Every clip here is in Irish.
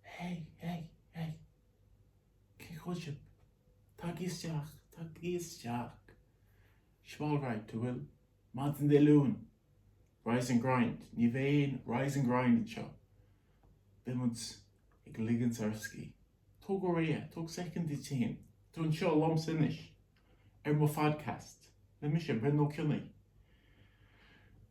Hey! Hey! Hey! Cén chaoi sibh? Tagaigí isteach! Tagaigí isteach! 'S maith an rud, a bhfuil? Maidin Dé Luain! Rise and Grind! Ní bheidh aon Rise and Grind anseo! Beimid ag ligint ár scíth. Tóg go réidh é, tóg soicind duit héin. Tá tú anseo liomsa anois ar mo phodcast le mise, Breandán Ó Cionnaith.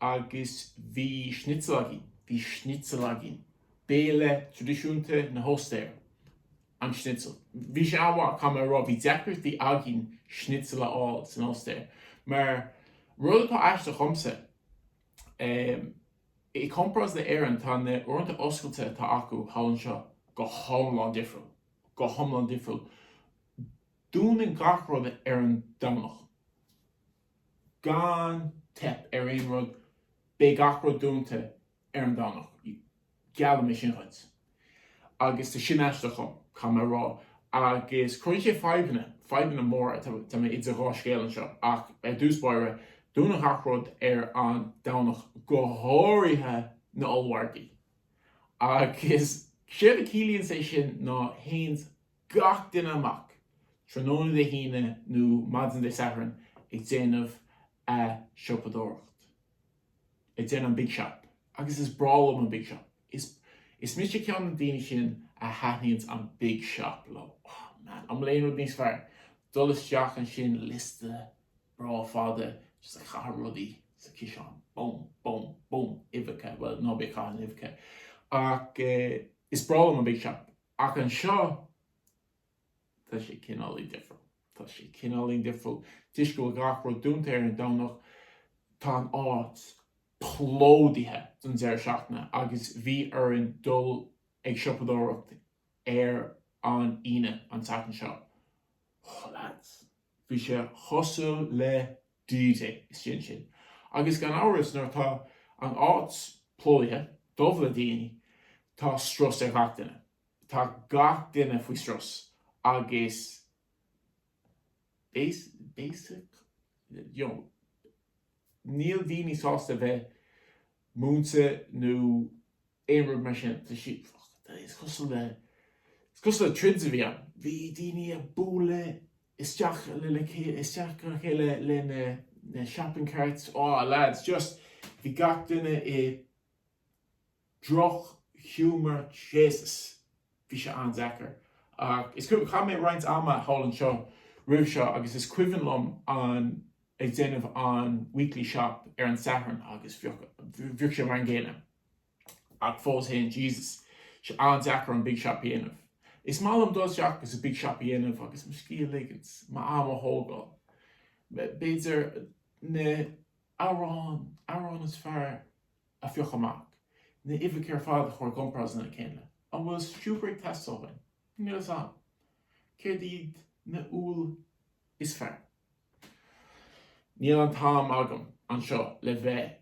Agus bhí schnitzel againn. Bhí schnitzel againn. Béile traidisiúnta na hOstaire, an schnitzel. Bhí sé an-mhaith, caithfidh mé a rá. Bhí deacrachtaí againn schnitzel a fháil san Ostair. Mar, rud atá aisteach dhomsa, i gcompráras le Éirinn, tá na uaireanta oscailte atá acu thall anseo go hiomlán difriúil. Go hiomlán difriúil. Dúnann gach rud ar an Domhnach. gan teip ar aon rud beidh gach rud dúnta ar an Domhnach, geallaim é sin dhuit. Agus tá sin aisteach dhom, caithfidh mé a rá. Agus cuireann sé fadhbanna, fadhbanna móra, tá mé idir dhá scéal anseo, ach ar dtús báire, dúnann gach rud ar an Domhnach, go háirithe na ollmhargaí. Agus séard a ciallaíonn sé sin ná téanns gach duine amach tráthnóna Dé hAoine nó maidin Dé Sathairn ag déanamh an siopadóireacht. Ag déanamh an Big Shop. Agus is breá liom an Big Shop. Is is mise ceann na daoine sin a thaitníonns an Big Shop leo. Oh man, an bhfuil aon rud níos fearr? Dul isteach ansin, liosta breá fada just ag caitheamh rudaí sa chiseán. Bum, bum, bum. Uibheacha, bhuel ná bí ag caitheamh na n-uibheacha. Ach eh is breá liom an Big Shop. Ach anseo, tá sé cineáilín difriúil. Tá sé cineáilín difriúil toisc go bhfuil gach rud dúnta ar an Domhnach. Tá an áit plódaithe don deireadh seachtaine agus bhí orainn dul ag siopadóireacht ar an Aoine, an tseachtain seo. Oh lads, bhí sé cosúil le dtí é, is sin sin. Agus gan amhras, nuair atá an áit plódaithe, dubh le daoine, tá strus ar gach duine. Tá gach duine faoi strus agus basically, you know, níl daoine sásta a bheith múinte nó aon rud mar sin. Tá sí, is cosúil le, is cosúil le troid a bhí ann. Bhí daoine ag bualadh isteach le le isteach le chéile le na na shopping carts ó lads just bhí gach duine i droch humour Jesus bhí sé an-deacair ach is cuimhin chaith mé roinnt ama thall anseo roimh seo agus is cuimhin liom an ag déanamh an weekly shop ar an Satharn agus bhíodh bhíodh sé mar an gcéanna. Ach fós fhéin, Jesus, tá sé an-deacair an Big Shop a dhéanamh. Is maith liom dul isteach agus an Big Shop a dhéanamh agus mo scíth a ligint, m'am a thógáil. B'fhéidir an t-arán, arán is fearr a phiocadh amach, na h-uibheacha ar fad a chur i gcomparáid lena chéile. An bhfuil sú ag teastáil uainn? Níl fhios a'm. Céard iad na h-úlla is fearr? Níl an t-am agam anseo le bheith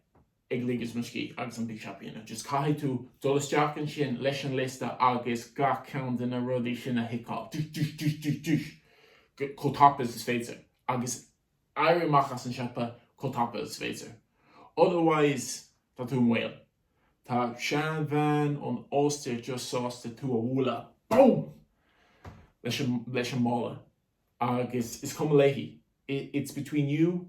ag ligint mo scíth agus an big shop a dhéanamh just caithfidh tú dul isteach ansin leis an liosta agus gach ceann de na rudaí sin a thiceáil tuis tuis tuis tuis tuis chomh tapa is is féidir agus éirí amach as an siopa chomh tapa is féidir otherwise tá tú an-mhall tá sean bhean ón Ostair just sásta tú a bhualadh boom leis an leis an mála agus is cuma léi it's between you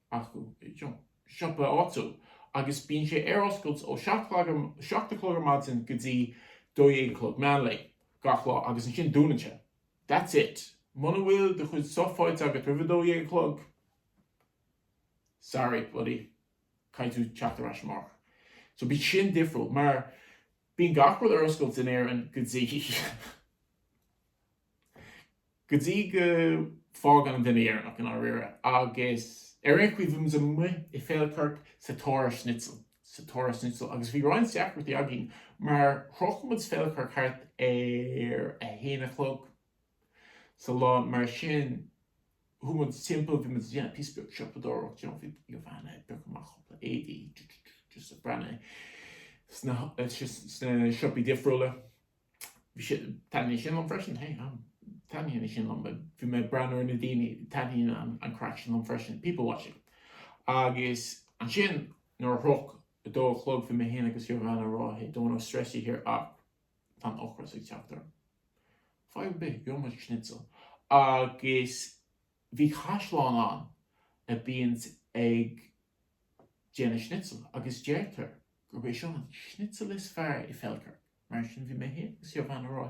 acu i siopa áitiúil agus bíonn sé ar oscailt ó seacht a chlog ar maidin go dtí dó dhéag a chlog meán lae gach lá agus ansin dúnann sé. That's it. Muna bhfuil do chuid stuff faighte agat roimh a dó dhéag a chlog, sorry buddy, caithfidh tú teacht ar ais amárach. So b'shin difriúil mar bíonn gach rud ar oscailt in Éirinn go dtí. go dtí go bhfágann an duine deireanach i ndáiríre agus ar aon chaoi bhí muid amuigh i Feilcirk sa tóir ar Schnitzel, sa tóir ar Schnitzel agus bhí roinnt deacrachtaí againn mar shroich muid Feilcirk thart ar a haon a chlog sa lá mar sin chuaigh muid timpeall bhí muid ag déanamh píosa beag siopadóireacht you know bhí bhí an bhean ag piocadh amach cúpla éadaí just ag breathnú sna sna siopaí difriúla. Taitníonn sin liom freisin, hé, taitníonn sin liom, bhí mé ag breathnú ar na daoine, taitníonn an craic sin liom freisin, people watching. Agus ansin nuair a shroich a dó a chlog bhí mé féin agus Giovanna ag rá, hé, don't want stress you here ach tá an t-ocras ag teacht orm. Fadhb ar bith, gheobhaidh muid schnitzel. Agus bhí caisleán ann a bhíonn ag déanamh schnitzel agus deirtear gurb é seo an schnitzel is fearr i Feldkirch. Mar sin bhí mé fhéin agus Giovanna ag rá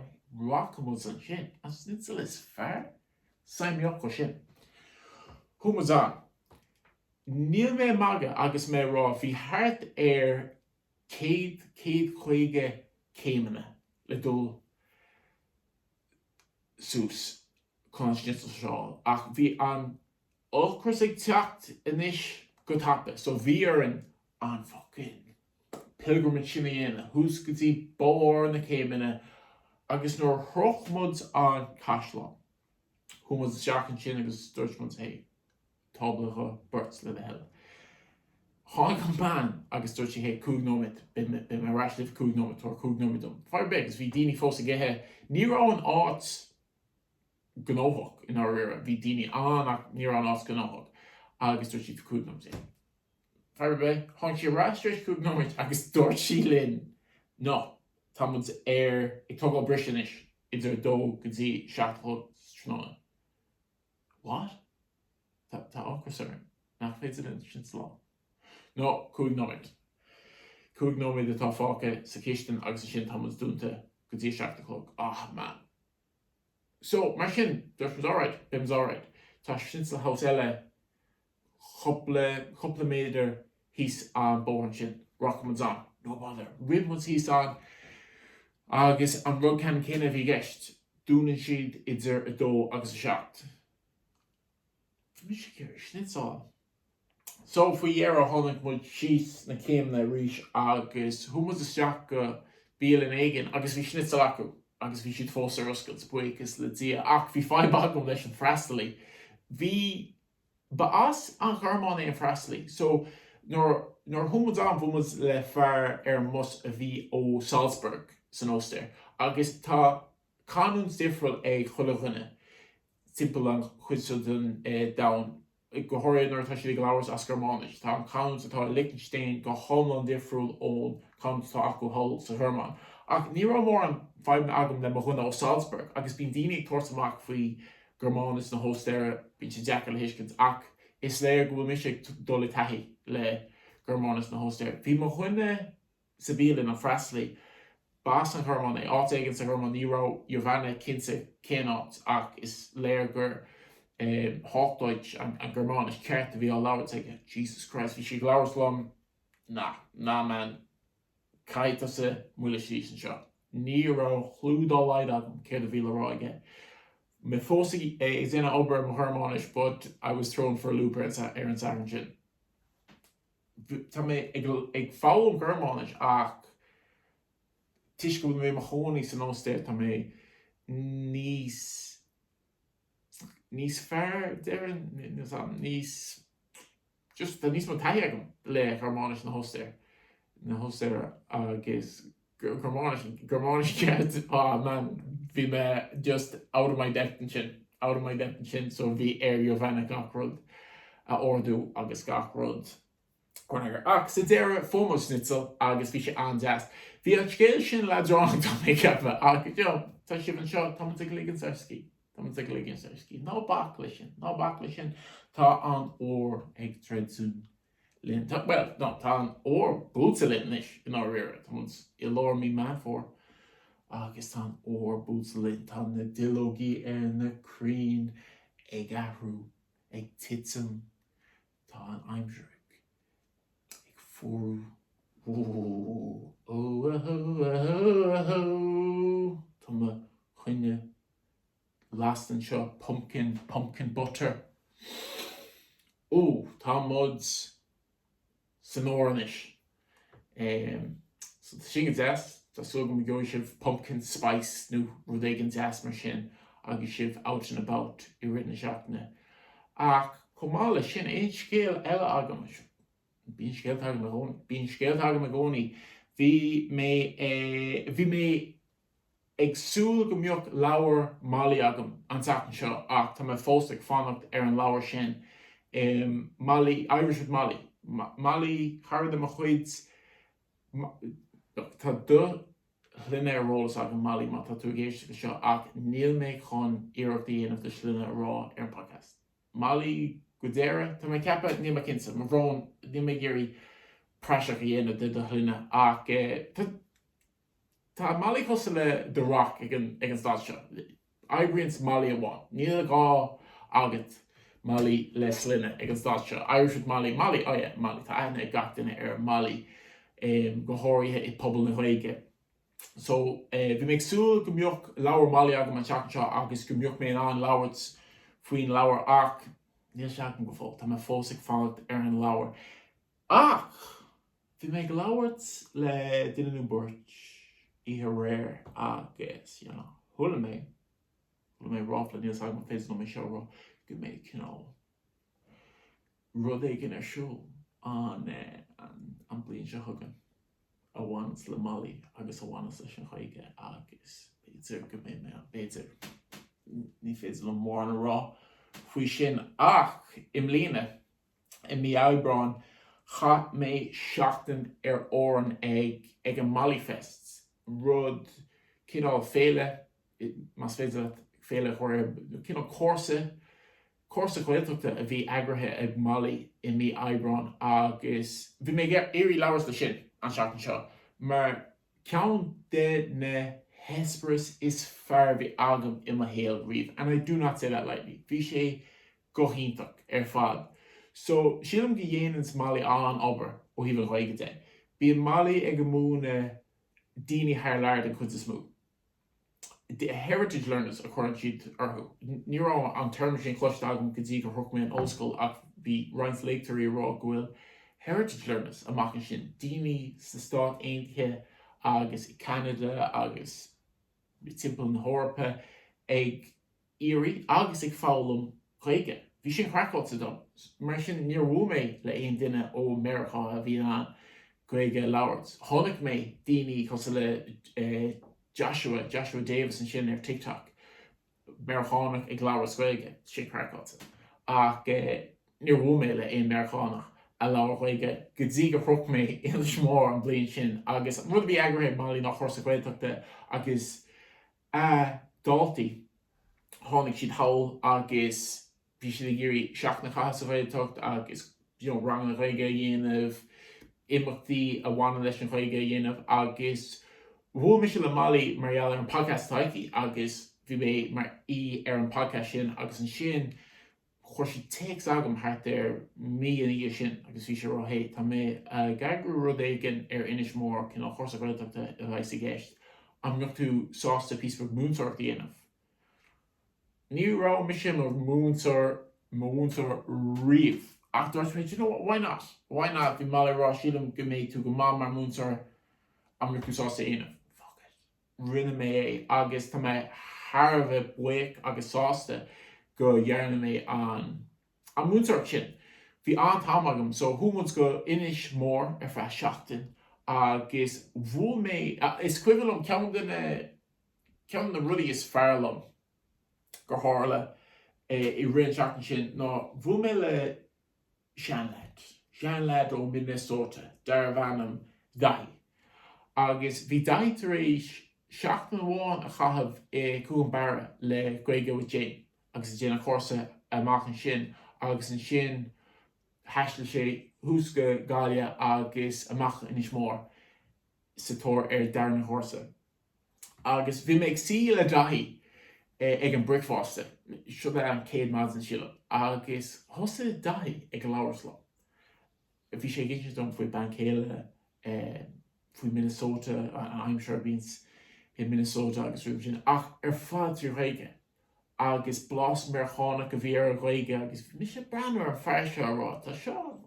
rachaidh muid ansin an schnitzel is fearr sa mbealach. Go sin. Chuaigh muid ann. Níl mé ag magadh agus mé ag rá bhí thart ar céad, céad caoga céimeanna le dul suas chun an schnitzel seo ach bhí an, ocras ag teacht anois go tapa so bhí orainn an fucking pilgrimage sin a dhéanamh suas go dtí barr na céimeanna agus nuair a shroich muid an caisleán chuaigh muid isteach ansin agus dúirt muid hé tábla do bheirt le do thoil. Tháinig an bean agus dúirt sí hé cúig nóiméad beidh mé ar ais libh cúig nóiméad tabhair cúig nóiméad dom. Fadhb ar bith agus bhí daoine fós ag ithe, ní raibh an áit gnóthach i ndáiríre. Bhí daoine ann ach ní raibh an áit gnóthach agus dúirt sí cúig nóiméad. Fadhb ar bith. Tháinig sí ar ais tar éis cúig nóiméad agus dúirt sí linn no, tá muid ar ag tógáil briseadh anois idir a dó go dtí a seacht a chlog sa tráthnóna. What? Tá tá ocras orm. Nach féidir linn schnitzel a fháil? No, cúig nóiméad. Cúig nóiméad atá fágtha sa chistin agus ansin tá muid dúnta go dtí a seacht a chlog. Ah, man. So, mar sin, dúirt muid alright, beidh muid alright. Tá schnitzel house eile cúpla, cúpla méadar thíos an bóthar ansin, rachaidh muid ann, no bother. Rith muid thíos ann agus an rud ceanann céanna a bhí i gceist, dúnann siad idir a dó agus a seacht. Bhí mise ag iarraidh schnitzel. So faoi dheireadh tháinig muid síos na céimeanna arís agus chuaigh muid isteach go bialann éigin agus bhí schnitzel acu agus bhí siad fós ar oscailt, buíochas le Dia, ach bhí fadhb agam leis an freastalaí. Bhí. ba as an Ghearmáin é an freastalaí so nuair, nuair a chuaigh muid ann bhuail muid le fear ar an mbus a bhí ó Salzburg san Ostair agus tá. Canúint difriúil ag chuile dhuine timpeall an chuid seo den domhan, go háirithe nuair atá siad ag labhairt as Gearmáinis. Tá an canúint atá i Lichtinstéin go hiomlán difriúil ón canúint atá acu thall sa Ghearmáin. Ach ní raibh mórán fadhbanna agam le mo dhuine ó Salzburg, agus bíonn daoine ag tabhairt amach faoi Ghearmáinis na hOstaire, bíonn sé deacair le thuiscint, ach is léir go bhfuil mise ag dul i dtaithí le Gearmáinis na hOstaire. Bhí mo dhuine. sa bhialann an freastalaí. B'as an Ghormáin é. Áit éigin sa Ghormáin, ní raibh Jovana cinnte cén áit, ach is léir gur Hochdeutsch, an Gearmáinis ceart, a bhí á labhairt aige. Jesus Christ, bhí sé ag labhairt liom. Nah, nah, man, caithfidh tusa moilliú síos anseo. Ní raibh clue dá laghad agam céard a bhí le rá aige. Mé fós ag déanamh obair ar mo Ghearmáinis, but I was thrown for a loop ar an soicind sin. Tá mé ag foghlaim Gearmáinis ach toisc go bhfuil mé i mo chónaí san Ostair tá mé níos, níos fearr deireann, níos, just tá níos mó taithí agam le Gearmáinis na hOstaire, na hOstaire agus Gearmáinis ceart. Aww man bhí mé just out of my depth ansin, out of my depth ansin so bhí ar Jovana gach rud a ordú agus gach rud a chur in eagar ach sa deireadh fuair muid schnitzel agus bhí sé an-deas. Bhí an scéal sin leadránach tá mé ag ceapadh ach go deo tá sibh anseo tá muid ag ligint ár scíth tá muid ag ligint ár scíth ná bac leis sin ná bac leis sin tá an Fhómhair ag druidim linn, tá, bhuel, no, tá an Fhómhair buailte linn anois, i ndáiríre, tá muid i lár mí Meán Fómhair agus tá an Fhómhair buailte linn, tá na duilleogaí ar na crainn ag athrú, ag titim, tá an aimsir ag fuarú. Tá mo choinneal lasta anseo pumpkin, pumpkin butter. Ó tá muid san Fhómhair anois eh so tá sin go deas, tá súil agam go gheobhaidh sibh pumpkin spice nó rud éigin deas mar sin agus sibh out and about i rith na seachtaine. Ach chomh maith le sin aon scéal eile agam, bíonn scéalta agam i gcónaí, bíonn scéalta agam i gcónaí, bhí mé eh bhí mé Ag súil go mbeadh leabhar Mollie agam an tseachtain seo ach tá mé fós ag fanacht ar an leabhar sin eh Mollie, Irish with Mollie. Mollie, cara de mo chuid, tá do shloinne ar eolas agam Mollie má tá tú ag éisteacht le seo ach níl mé chun iarracht a dhéanamh do shloinne a rá ar an podcast. Mollie Guidera, tá mé ag ceapadh, níl mé cinnte, mo bhrón, níl mé ag iarraidh praiseach a dhéanamh de do shloinne ach tá, Tá Mollie cosúil le The Rock ag an staid seo. Oibríonns Mollie amháin. Níl gá agat Mollie le sloinne ag an staid seo. Irish with Mollie Mollie oh yeah Mollie tá aithne ag gach duine ar Mollie go háirithe i pobal na Gaeilge. So bhí mé ag súil go mbeadh leabhar Mollie agam an tseachtain seo agus go mbeadh mé in ann labhairt faoin leabhar ach níl sé agam go fóill. Tá mé fós ag fanacht ar an leabhar. Ach! Bhí mé ag labhairt le duine nó beirt oíche aréir agus, you know, chuala mé, chuala mé ráfla, níl 's agam an féidir liom é seo a rá, go mbeidh, you know, rud éigin ar siúl an eh, an, an bhliain seo chugainn a bhaineas le Molly agus a bhaineas leis an Ghaeilge agus b'fhéidir go mbeidh mé ann, b'fhéidir. Ní féidir liom mórán a rá faoi sin ach i mbliana, i mí Aibreáin chaith mé seachtain ar Árainn ag ag an Mollyfest, rud, cineál féile, más féidir leat féile a chur air, cineál cúrsa, cúrsa Gaeltachta a bhí eagraithe ag Molly i mí Aibreáin agus bhí mé ag iarraidh labhairt le sin an seachtain seo mar Ceann de na heispéiris is fearr a bhí agam i mo shaol riamh and I do not say that lightly. Bhí sé go hiontach ar fad. So, sílim go dhéananns Molly an-obair ó thaobh an Ghaeilge de. Bíonn Molly ag múineadh daoine thar lear den chuid is mó. The heritage learners a chuireann siad orthu. Ní raibh an téarma sin cloiste agam go dtí gur shroich mé an ollscoil ach bhí roinnt léachtóirí ag rá go bhfuil heritage learners amach ansin, daoine sna Stáit Aontaithe agus i gCeanada agus timpeall na hEorpa ag. iarraidh agus ag foghlaim Gaeilge. Bhí sin craiceáilte dom, mar sin níor bhuail mé le aon duine ó Meiriceá a bhí in ann Gaeilge a labhairt. Chonaic mé daoine cosúil le Joshua, Joshua Davis ansin ar TikTok, Meiriceánach ag labhairt Gaeilge, sin craiceáilte. Ach níor bhuail mé le aon Meiriceánach a labhair Gaeilge go dtí gur shroich mé Inis Mór an bhliain sin agus an rud a bhí eagraithe ag Molly ná cúrsa Gaeltachta agus A dhaltaí, tháinig siad thall agus bhí siad ag iarraidh seachtain a chaitheamh sa Ghaeltacht agus you know ranganna Ghaeilge a dhéanamh, imeachtaí a bhaineann leis an Ghaeilge a dhéanamh agus bhuail mise le Molly mar gheall ar an podcast atá aici agus bhí mé mar aoi ar an podcast sin agus ansin Chuir sí téacs agam thart ar mí ina dhiaidh sin agus bhí sí ag rá hey, Tá mé ag eagrú rud éigin ar Inis Mór, cineál chúrsa Ghaeltachta a bheas i gceist. An mbeadh tú sásta píosa beag múinteoireacht a dhéanamh? Ní raibh mise mar mhúinteoir, mar mhúinteoir riamh ach dúirt mé, do you know what, why not? Why not? Bhí Molly ag rá, sílim go mbeidh tú go maith mar mhúinteoir, an mbeadh tú sásta é a dhéanamh? Fuck it. rinne mé é agus tá mé thar a bheith buíoch agus sásta go ndearna mé an an mhúinteoireacht sin. Bhí an-time agam so chuaigh muid go Inis Mór ar feadh seachtain agus bhuail mé is cuimhin liom ceann de na ceann de na rudaí is fearr liom gur tharla i rith an seachtain sin ná bhuail mé le seanleaid, seanleaid ó Minnesota darbh ainm Daithí. Agus bhí Daithí tar éis seachtain amháin a chaitheamh i gCuan Bhearra le Gaeilge with Jane agus ag déanamh cúrsa amach ansin agus ansin thaistil sé suas go Gaillimh agus amach go hInis Mór sa tóir ar an darna cúrsa. agus bhí mé ag suí le Daithí ag an bricfeasta, seo é an chéad maidin sílim, agus thosaigh Daithí ag labhairt liom. Bhí sé ag insint dom faoina bhean chéile, faoi Minnesota, an aimsir a bhíonns i Minnesota agus rudaí mar sin ach ar fad trí Ghaeilge. agus blas Meirceánach a bhí ar a Ghaeilge agus bhí mise breathnú ar an fear seo a rá tá seo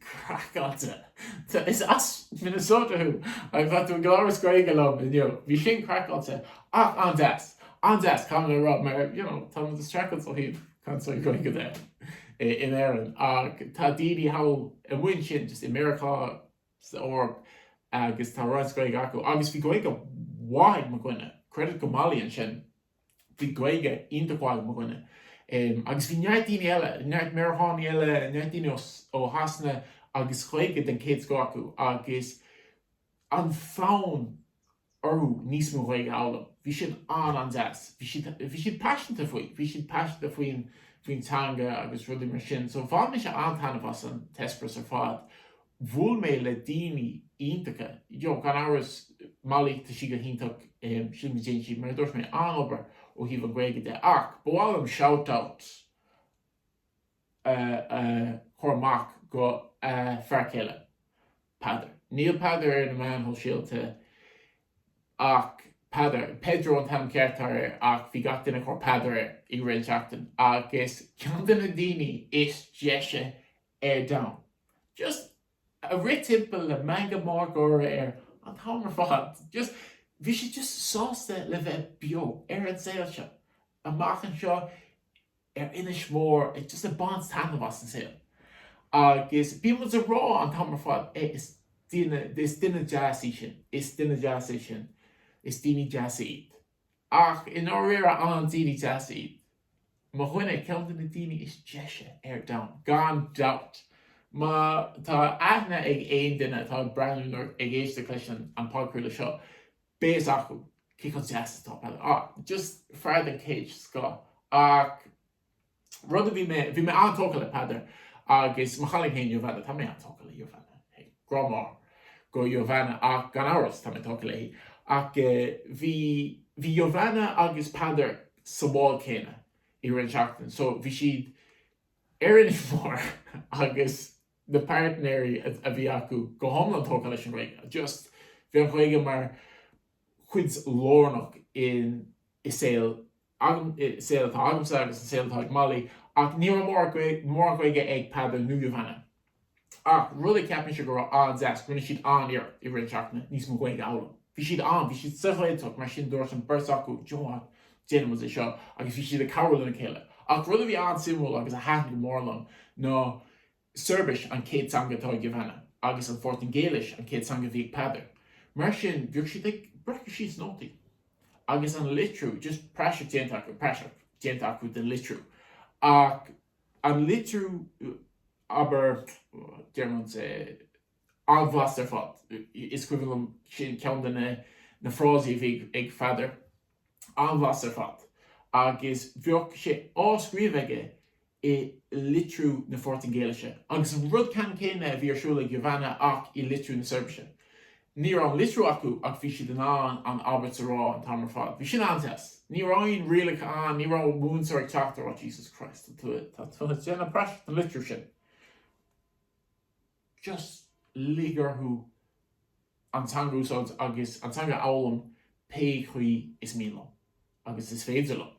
craiceáilte is as Minnesota thú agus tá tú ag labhairt Gaeilge liom bhí sin craiceáilte ach an-deas an-deas caithfidh mé a rá mar you know tá muid ag streachailt ó thaobh cainteoirí Gaeilge de in Éirinn ach tá daoine thall ní hamháin sin just i Meiriceá san Eoraip agus tá roinnt Gaeilge acu agus bhí Gaeilge mhaith ag mo dhuine, credit go Molly ansin, bhí Gaeilge iontach mhaith ag mo dhuine. Em, agus bhí neart daoine eile, neart Meiriceánaigh eile, neart daoine ó, ó Shasana agus Gaeilge den chéad scoth acu agus an fonn, orthu níos mó Ghaeilge a fhoghlaim. Bhí siad an-an-deas. Bhí siad, bhí siad paiseanta faoi. Bhí siad paiseanta faoin, faoin teanga agus rudaí mar sin. So bhain mise an-taitneamh as an t-eispéireas ar fad. Bhuail mé le daoine iontacha. You know, gan amhras, Molly, tá sí go hiontach, eh, sílim go ndéanann sí, mar a dúirt mé, an-obair ó thaobh an Ghaeilge de. Ach ba mhaith liom shout-out. a chur amach go a fear céile, Peadar. Níl Peadar ar na meáin shóisialta ach Peadar, Pedro an t-ainm ceart atá air ach bhí gach duine ag tabhairt Peadar air i rith an tseachtain agus ceann de na daoine is deise ar domhan. Just ag rith timpeall le meangadh mór gáire air an t-am ar fad. Just bhí sé just sásta le bheith beo ar an saol seo. Amach anseo ar Inis Mór ag just ag baint taitneamh as an saol agus bíonn muid a rá an t-am ar fad eh is daoine is duine deas í sin is duine deas é sin is daoine deasa iad ach i ndáiríre an daoine deasa iad mo dhuine ceann de na daoine is deise ar domhan gan dabht má tá aithne ag aon duine atá ag breathnú nó ag éisteacht leis an bpodchraoladh seo beirt acu, cé chomh deas atá Peadar? Á, just fear den chéad scoth ach rud a bhí mé, bhí mé an-tógtha le Peadar agus mo chailín fhéin Giovana, tá mé an-tógtha le Giovana, hé, grá mór do Giovana ach gan amhras tá mé tógtha léi ach eh bhí, bhí Giovana agus Peadar sa bhád céanna i rith an seachtain so bhí siad ar Inis Mór agus, na páirtnéirí a bhí acu go hiomlán tógtha leis an Ghaeilge. Just, bhí an Ghaeilge mar chuid lárnach den saol atá agam, i saol atá agamsa agus an saol atá ag Molly ach ní raibh mór Gaeilge, mórán Gaeilge ag Peadar nó Giovana. Ach rud a cheap mise go raibh an-deas, rinne siad an-iarracht i rith an seachtaine níos mó Gaeilge a fhoghlaim. Bhí siad an, bhí siad sa Ghaeltacht mar sin dúirt an beirt acu, do you know what, déanaimis é seo agus bhí siad ag cabhrú lena chéile. Ach rud a bhí an-suimiúil agus a thaitin go mór liom ná Seirbis an chéad teanga atá ag Giovana agus an Phortaingéilis an chéad teanga a bhí ag Peadar. Mar sin bhíodh siad ag breacadh síos nótaí agus an litriú just praiseach déanta acu, praiseach déanta acu den litriú ach an litriú abair déarfainn an-bhlasta ar fad. Is cuimhin liom sin ceann de na frásaí a bhí ag Peadar. An-bhlasta ar fad. Agus bhíodh sé á scríobh aige i litriú na Phortaingéilise. Agus an rud ceannann céanna a bhí ar siúl ag Giovana ach i litriú na Seirbise. Ní raibh an litriú acu ach bhí siad in ann an abairt a rá an t-am ar fad. Bhí sin an-deas. Ní raibh aon rialacha ann, ní raibh múinteoir ag teacht ag rá Jesus Christ, tá tú ag déanamh praiseach den litriú sin. just lig orthu an teanga a úsáid agus an teanga a fhoghlaim pé chaoi is mian leo agus is féidir leo.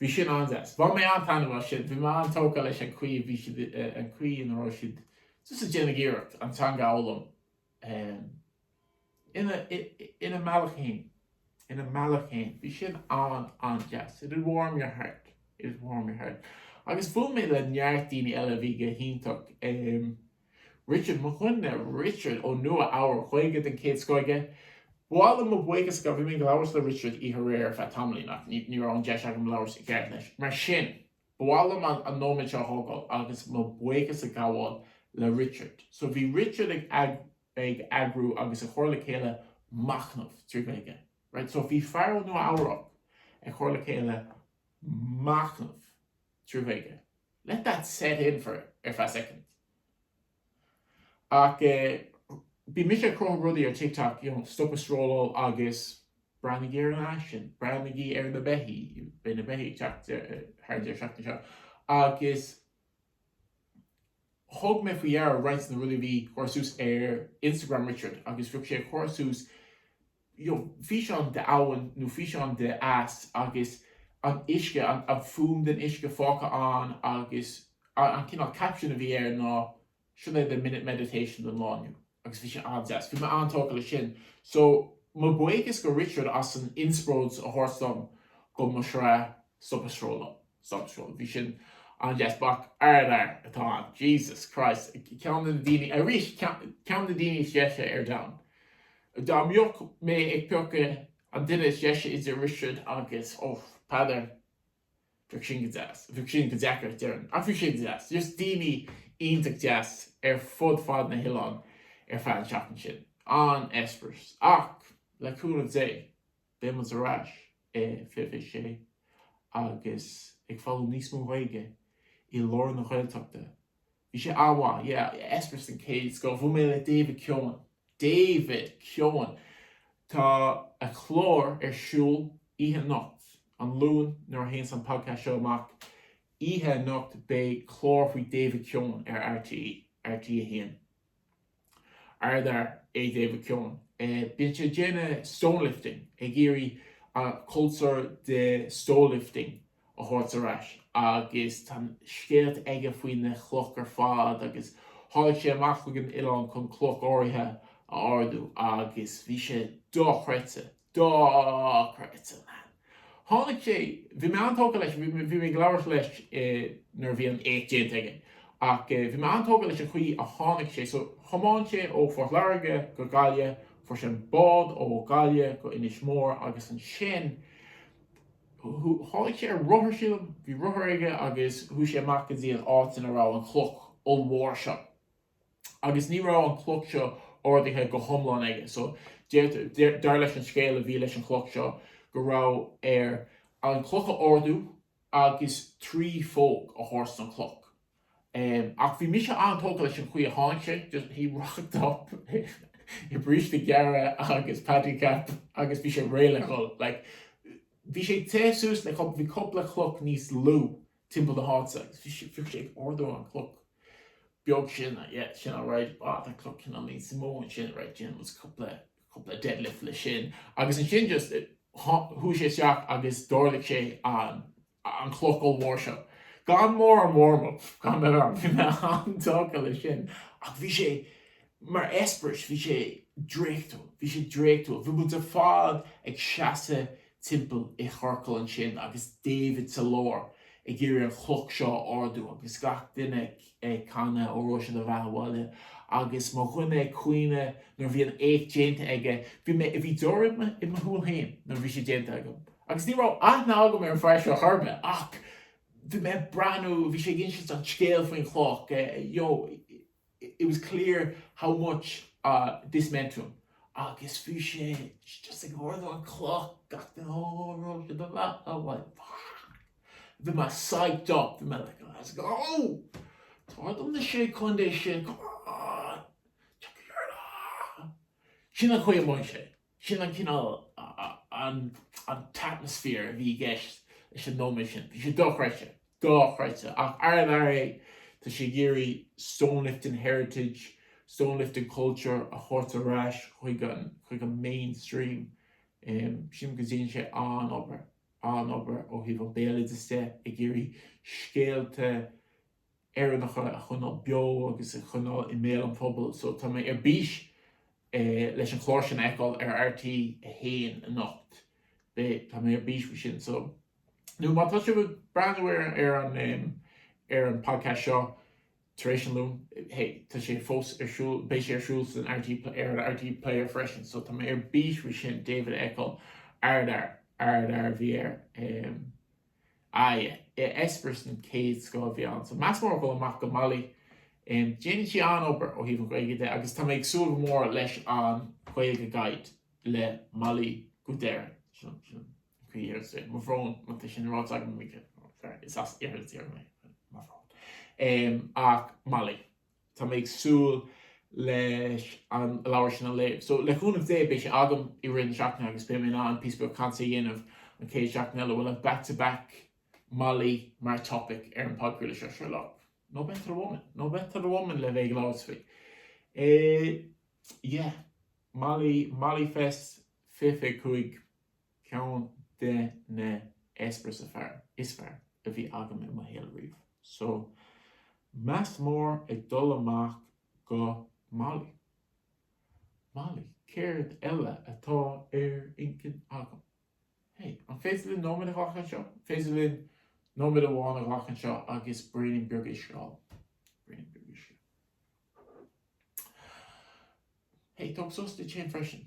Bhí sin an-deas. Bhain mé an-taitneamh as sin, bhí mé an-tógtha leis an chaoi a bhí siad, an chaoi ina raibh siad just ag déanamh iarracht an teanga a fhoghlaim. ina mbealach fhéin, ina mbealach fhéin, bhí sin an-an-deas, it'd warm your heart, it'd warm your heart agus bhuail mé le neart daoine eile a bhí go hiontach, em, Richard Mac Coille, Richard ó Nua Eabhrac, Gaeilge den chéad scoth aige, ba mhaith liom mo bhuíochas a gabh, bhí mé ag labhairt le Richard aréir ar feadh tamaillín ach ní, ní raibh an deis agam labhairt i gceart leis, mar sin, ba mhaith liom an, an nóiméad seo a thógáil agus mo bhuíochas a ghabháil le Richard. So bhí Richard ag, ag. ag eagrú agus ag cur le chéile machnaimh trí Ghaeilge. Right so bhí fear ó Nua Eabhrac ag cur le chéile machnaimh trí Ghaeilge. Let that set in for ar feadh soicind. Ach eh, bhí mise ag cruthú rudaí ar TikTok, you know, stop ag scrolláil agus breathnaígí ar an aisin, breathnaígí ar na beithígh, bhí na beithígh ag teacht eh, thar an deireadh seachtaine seo agus Thug mé faoi dheara roinnt de na rudaí a bhí á gcur suas ar Instagram Richard agus bhíodh sé á gcur suas you know físeáin de abhainn nó físeáin de eas agus an uisce an an fuaim den uisce fágtha ann agus an cineál caption a bhí air ná sin é do minute meditation don lá inniu agus bhí sé an-deas. Bhí mé an-tógtha le sin so mo bhuíochas go Richard as an inspróid a thabhairt dom go mo shraith Stop ag Srólach. Social. Bhí sin an-deas. Buachaill ar leith atá ann. Jesus Christ. Ceann de na daoine, arís, ceann de na daoine is deise ar domhan. Dá mbeadh mé ag piocadh an duine is deise idir Richard agus, ó, Peadar, bheadh sin go deas. Bheadh sin go deacair, déarfainn. Ach bhí sé deas. Just daoine iontach deas ar fud fad na hoileáin ar feadh an tseachtain sin. An-eispéireas. Ach, le cúnamh Dé, beidh muid ar ais. fiche fiche sé agus ag foghlaim níos mó Gaeilge i lár na Gaeltachta. Bhí sé an-mhaith, yeah, eispéireas den chéad scoth. Bhuail mé le David Keohan, David Keohan! Tá a chlár ar siúl oíche anocht, an Luan, nuair a théanns an podcast seo amach, oíche anocht beidh clár faoi David Keohan ar RTÉ, RTÉ a haon. Ardfhear é David Keohan. Bíonn sé ag déanamh stonelifting, ag iarraidh an cultúr de stonelifting a thabhairt ar ais agus tá na scéalta aige faoi na clocha ar fad agus tháinig sé amach chuig an oileán chun cloch áirithe a ardú agus bhí sé dochreidte. dochreidte an leathan. Tháinig sé, bhí mé an-tógtha leis, bhí mé, bhí mé ag labhairt leis eh nuair a bhí an éacht déanta aige ach eh bhí mé an-tógtha leis an chaoi a tháinig sé, so thiomáin sé ó Phort Láirge go Gaillimh, fuair sé an bád ó Ghaillimh go Inis Mór agus ansin shiúil, tháinig sé ar rothar sílim, bhí rothar aige agus shiúil sé amach go dtí an áit ina raibh an chloch ollmhór seo. agus ní raibh an chloch seo ardaithe go hiomlán aige so deirtear, dar leis an scéal a bhí leis an chloch seo, go raibh air an chloch a ardú agus trí phóg a thabhairt don chloch. Ach bhí mise an-tógtha leis an chaoi a tháinig sé, just, he rocked up i bríste gearra agus Paddy Cap agus bhí sé réidh le dhul. Like, bhí sé ag téamh suas le, bhí cupla chloch níos lú timpeall na háite agus bhí sé bhíodh sé ag ardú an cloch beag sin yeah sin alright ah tá cloch cineál níos mó ansin right déanann muid cúpla cúpla deadlift le sin agus ansin just chuaigh sé isteach agus d'ardaigh sé an an cloch ollmhór seo gan mórán warm up bhí mé an-tógtha le sin ach bhí sé Mar eispéireas, bhí sé draíochtúil. Bhí sé draíochtúil. Bhí muid ar fad ag seasamh timpeall i chorcal ansin agus David sa lár ag iarraidh an chloch seo a ardú agus gach duine ag canadh Óró sé do bheatha abhaile agus mo dhuine ag caoineadh nuair a bhí an éacht déanta aige. Bhí mé, bhí deoir i mo, i mo shúil féin nuair a bhí sé déanta agam. Agus ní raibh aithne agam ar an fear seo chor ar bith ach bhí mé ag breathnú, bhí sé ag inseacht an scéal faoin chloch, you know, It was clear how much this meant to him agus fiú é just ag ardú an chloch gach duine Óró sé do bheatha abhaile. Bhí mé psyched up, bhí mé like let's go! Tabhair dom na sé chontae sin, come on! Tiocfaidh ár lá! Sin an chaoi a mhothaigh sé. Sin an cineál, an t-atmosphere a bhí i gceist leis an nóiméad sin. Bhí sé dochreidte. Dochreidte. Ach ardfhear é. Tá sé ag iarraidh stone-lifting heritage, stone-lifting culture a thabhairt ar ais chuig an, chuig an mainstream. Sílim go ndéanann sé an-obair, an-obair ó thaobh an béaloideas de, ag iarraidh scéalta Éireannacha a choinneáil beo agus a choinneáil i mbéal an phobail. So tá mé ar bís leis an chlár sin a fheiceáil ar RTÉ 1 anocht. Beidh, tá mé ar bís faoi sin. So, nó má tá sibh ag breathnú ar, ar an em, ar an podcast seo tar éis an Luain, hey, tá sé fós ar siúl, beidh sé ar siúl san RTÉ, ar an RTÉ Player freisin. So tá mé ar bís faoi sin David a fheiceáil. Ardfhear, ardfhear a bhí air. Em. Aye, eispéireas den chéad scoth a bhí ann. So meas mór ag dul amach go Molly. Em, déanann sí an-obair ó thaobh an Ghaeilge de agus tá mé ag súil go mór leis an Gaeilge Guide le Molly Nic Céile. Sin, sin an chaoi a ndeireann sí é. Mo bhrón má tá sin ráite agam go mícheart. Is as Iarthar na tíre mé. Mo bhrón. Em, ach Molly. Tá mé ag súil leis an leabhar sin a léamh. So, le cúnamh Dé, beidh sé agam i rith na seachtaine agus beidh mé in ann píosa beag cainte a dhéanamh an chéad seachtain eile. We'll have back to back Molly mar topic ar an podchraoladh seo, sure look, no better woman, no better woman le bheith ag labhairt faoi. Eh, yeah, Molly, Molly Fest 25. Ceann de na eispéiris is fearr a bhí agam i mo shaol riamh. So, meas mór ag dul amach go Molly. Molly. Céard eile atá ar intinn agam? Hey, an féidir linn nóiméad a ghlacadh anseo? An féidir linn nóiméad amháin a ghlacadh anseo agus braoinín beag uisce a ól? Braoinín beag uisce. Hey, tóg sos duit féin freisin.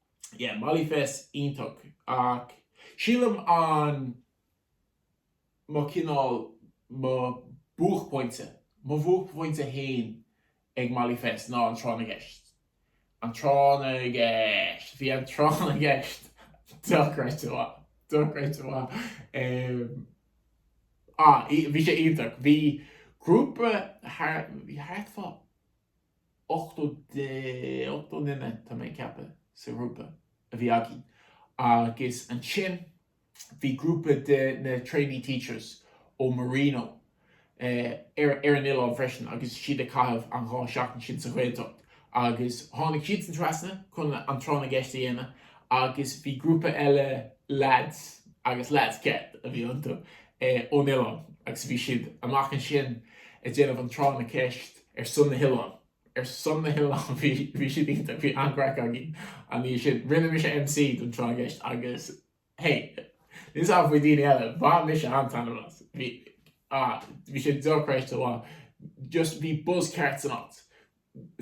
yeah Mollyfest iontach ach sílim an mo cineál mo buachphointe mo bhuachphointe fhéin ag Mollyfest ná an Tráth na gCeist an Tráth na gCeist bhí an Tráth na gCeist dochreidte mhaith dochreidte mhaith em ah bhí sé iontach bhí grúpa thar bhí thart fá 8, 8 nduine, tá mé ag ceapadh, sa ghrúpa a bhí againn agus ansin bhí grúpa de na Trainee Teachers ó Marino ar ar an oileán freisin agus siad ag caitheamh an dhá sheachtain sin sa Ghaeltacht agus tháinig siadsan trasna chun an Tráth na gCeist a dhéanamh agus bhí grúpa eile leaids agus leaids ceart a bhí iontu ón oileán agus bhí siad amach ansin ag déanamh an Tráth na gCeist ar son na hoileáin. ar son na hoileáin bhí bhí siad iontach bhí an-craic againn an oíche sin. Rinne mise MC don Tráth na gCeist agus hey níl a fhios agam faoi daoine eile bhain mise an-taitneamh as. Bhí ah, bhí sé dochreidte mhaith. Just bhí buzz ceart san áit.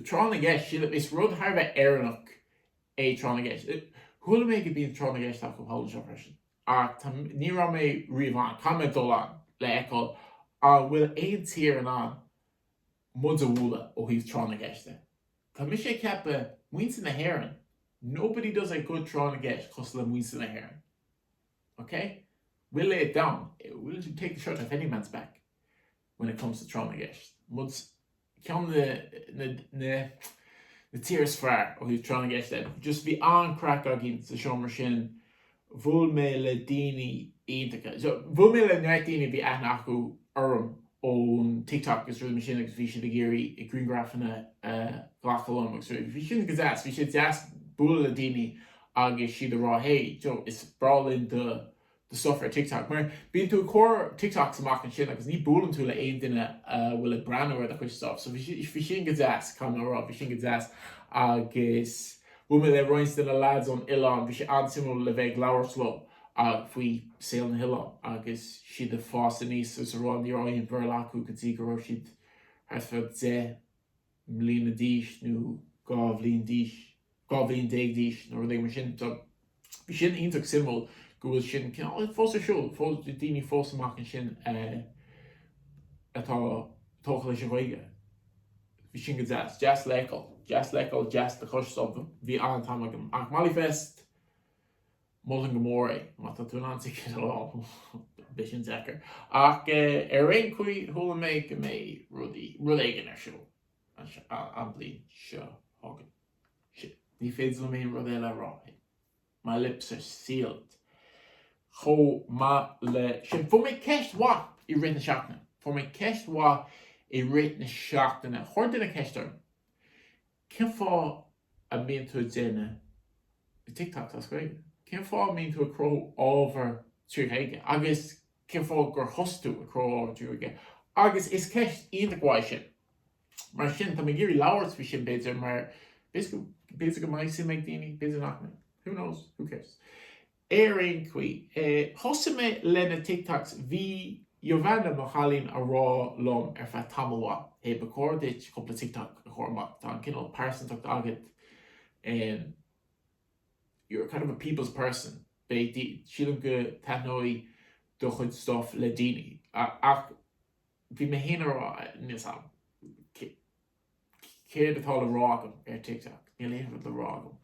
Tráth na gCeist sílim is rud thar a bheith Éireannach é Tráth na gCeist. Eh, chuala mé go bíonn Tráth na gCeist acu thall anseo freisin. Ach tá ní raibh mé riamh ann, tá mé ag dul ann le feiceáil an bhfuil aon tír in ann muid a bhualadh ó thaobh tráth na gceist de. Tá mise ag ceapadh, muintir na hÉireann, nobody does a good tráth na gceist cosúil le muintir na hÉireann. Ok? We'll lay it down, we'll take the shirt off any man's back when it comes to tráth na gceist. Muid ceann na, na, na, na tíortha is fearr ó thaobh tráth na gceist de. Just bhí an-craic againn sa seomra sin Bhuail mé le daoine iontacha. So, bhuail mé le neart daoine a bhí aithne acu orm ón TikTok agus rudaí mar sin agus bhí siad ag iarraidh griangrafanna a ghlacadh liom agus rudaí. Bhí sin go deas. Bhí sé deas bualadh le daoine agus siad a rá hey, you know, is breá linn do do stuff ar TikTok. Mar bíonn tú ag cur TikToks amach ansin agus ní buaileann tú le aon duine a bhfuil ag breathnú ar do chuid stuff. So, bhí sin go deas, caithfidh mé a rá. Bhí sin go deas agus. Bhuail mé le roinnt de na lads ón oileán. Bhí sé an-suimiúil a bheith ag labhairt leo faoi saol na hoileán agus siad ag fás aníos agus a rá. Ní raibh aon Bhéarla acu go dtí go raibh siad thart fá deich mbliana d'aois nó dhá bhliain d'aois, dhá bhliain déag d'aois nó rud éigin mar sin. Bhí sin iontach suimiúil go bhfuil sin cineál fós ar siúl, fós daoine fós amach ansin atá tógtha leis an Ghaeilge. Bhí sin go deas. Deas le fheiceáil. Deas le feiceáil, deas le cloisteáil so bhí an-am agam. Ach Mollyfest, mholfainn go mór é má tá tú in ann ticead a fháil. Beidh sin deacair. Ach ar aon chaoi chuala mé go mbeidh rud éigin ar siúl. Anois an bhliain seo chugainn. Sea, ní féidir liom aon rud eile a rá. My lips are sealed. Chomh maith leis sin, fuair mé ceist mhaith i rith na seachtaine. Fuair mé ceist mhaith i rith na seachtaine. Chuir duine ceist orm, cén fáth a mbíonn tú ag déanamh TikToks as Gaeilge? Cén fáth a mbíonn tú ag cruthú ábhair trí Ghaeilge? Agus cén fáth gur thosaigh tú ag cruthú trí Ghaeilge? Agus is ceist iontach mhaith sin. Mar sin, tá mé ag iarraidh labhairt faoi sin b'fhéidir mar b'fhéidir go mbeidh suim ag daoine, b'fhéidir nach mbeidh. Who knows? Who cares? Ar aon chaoi, thosaigh mé leis na TikToks, bhí Jovanna, mo chailín, ag rá liom ar feadh tamaill mhaith, hey, ba chóir duit cúpla TikTok a chur amach, tá an cineál pearsantacht agat, You're kind of a people's person, sílim go taitneoidh do chuid stuff le daoine ach bhí mé féin ag rá, níl a fhios agam, céard atá le rá agam ar TikTok, níl aon rud le rá agam.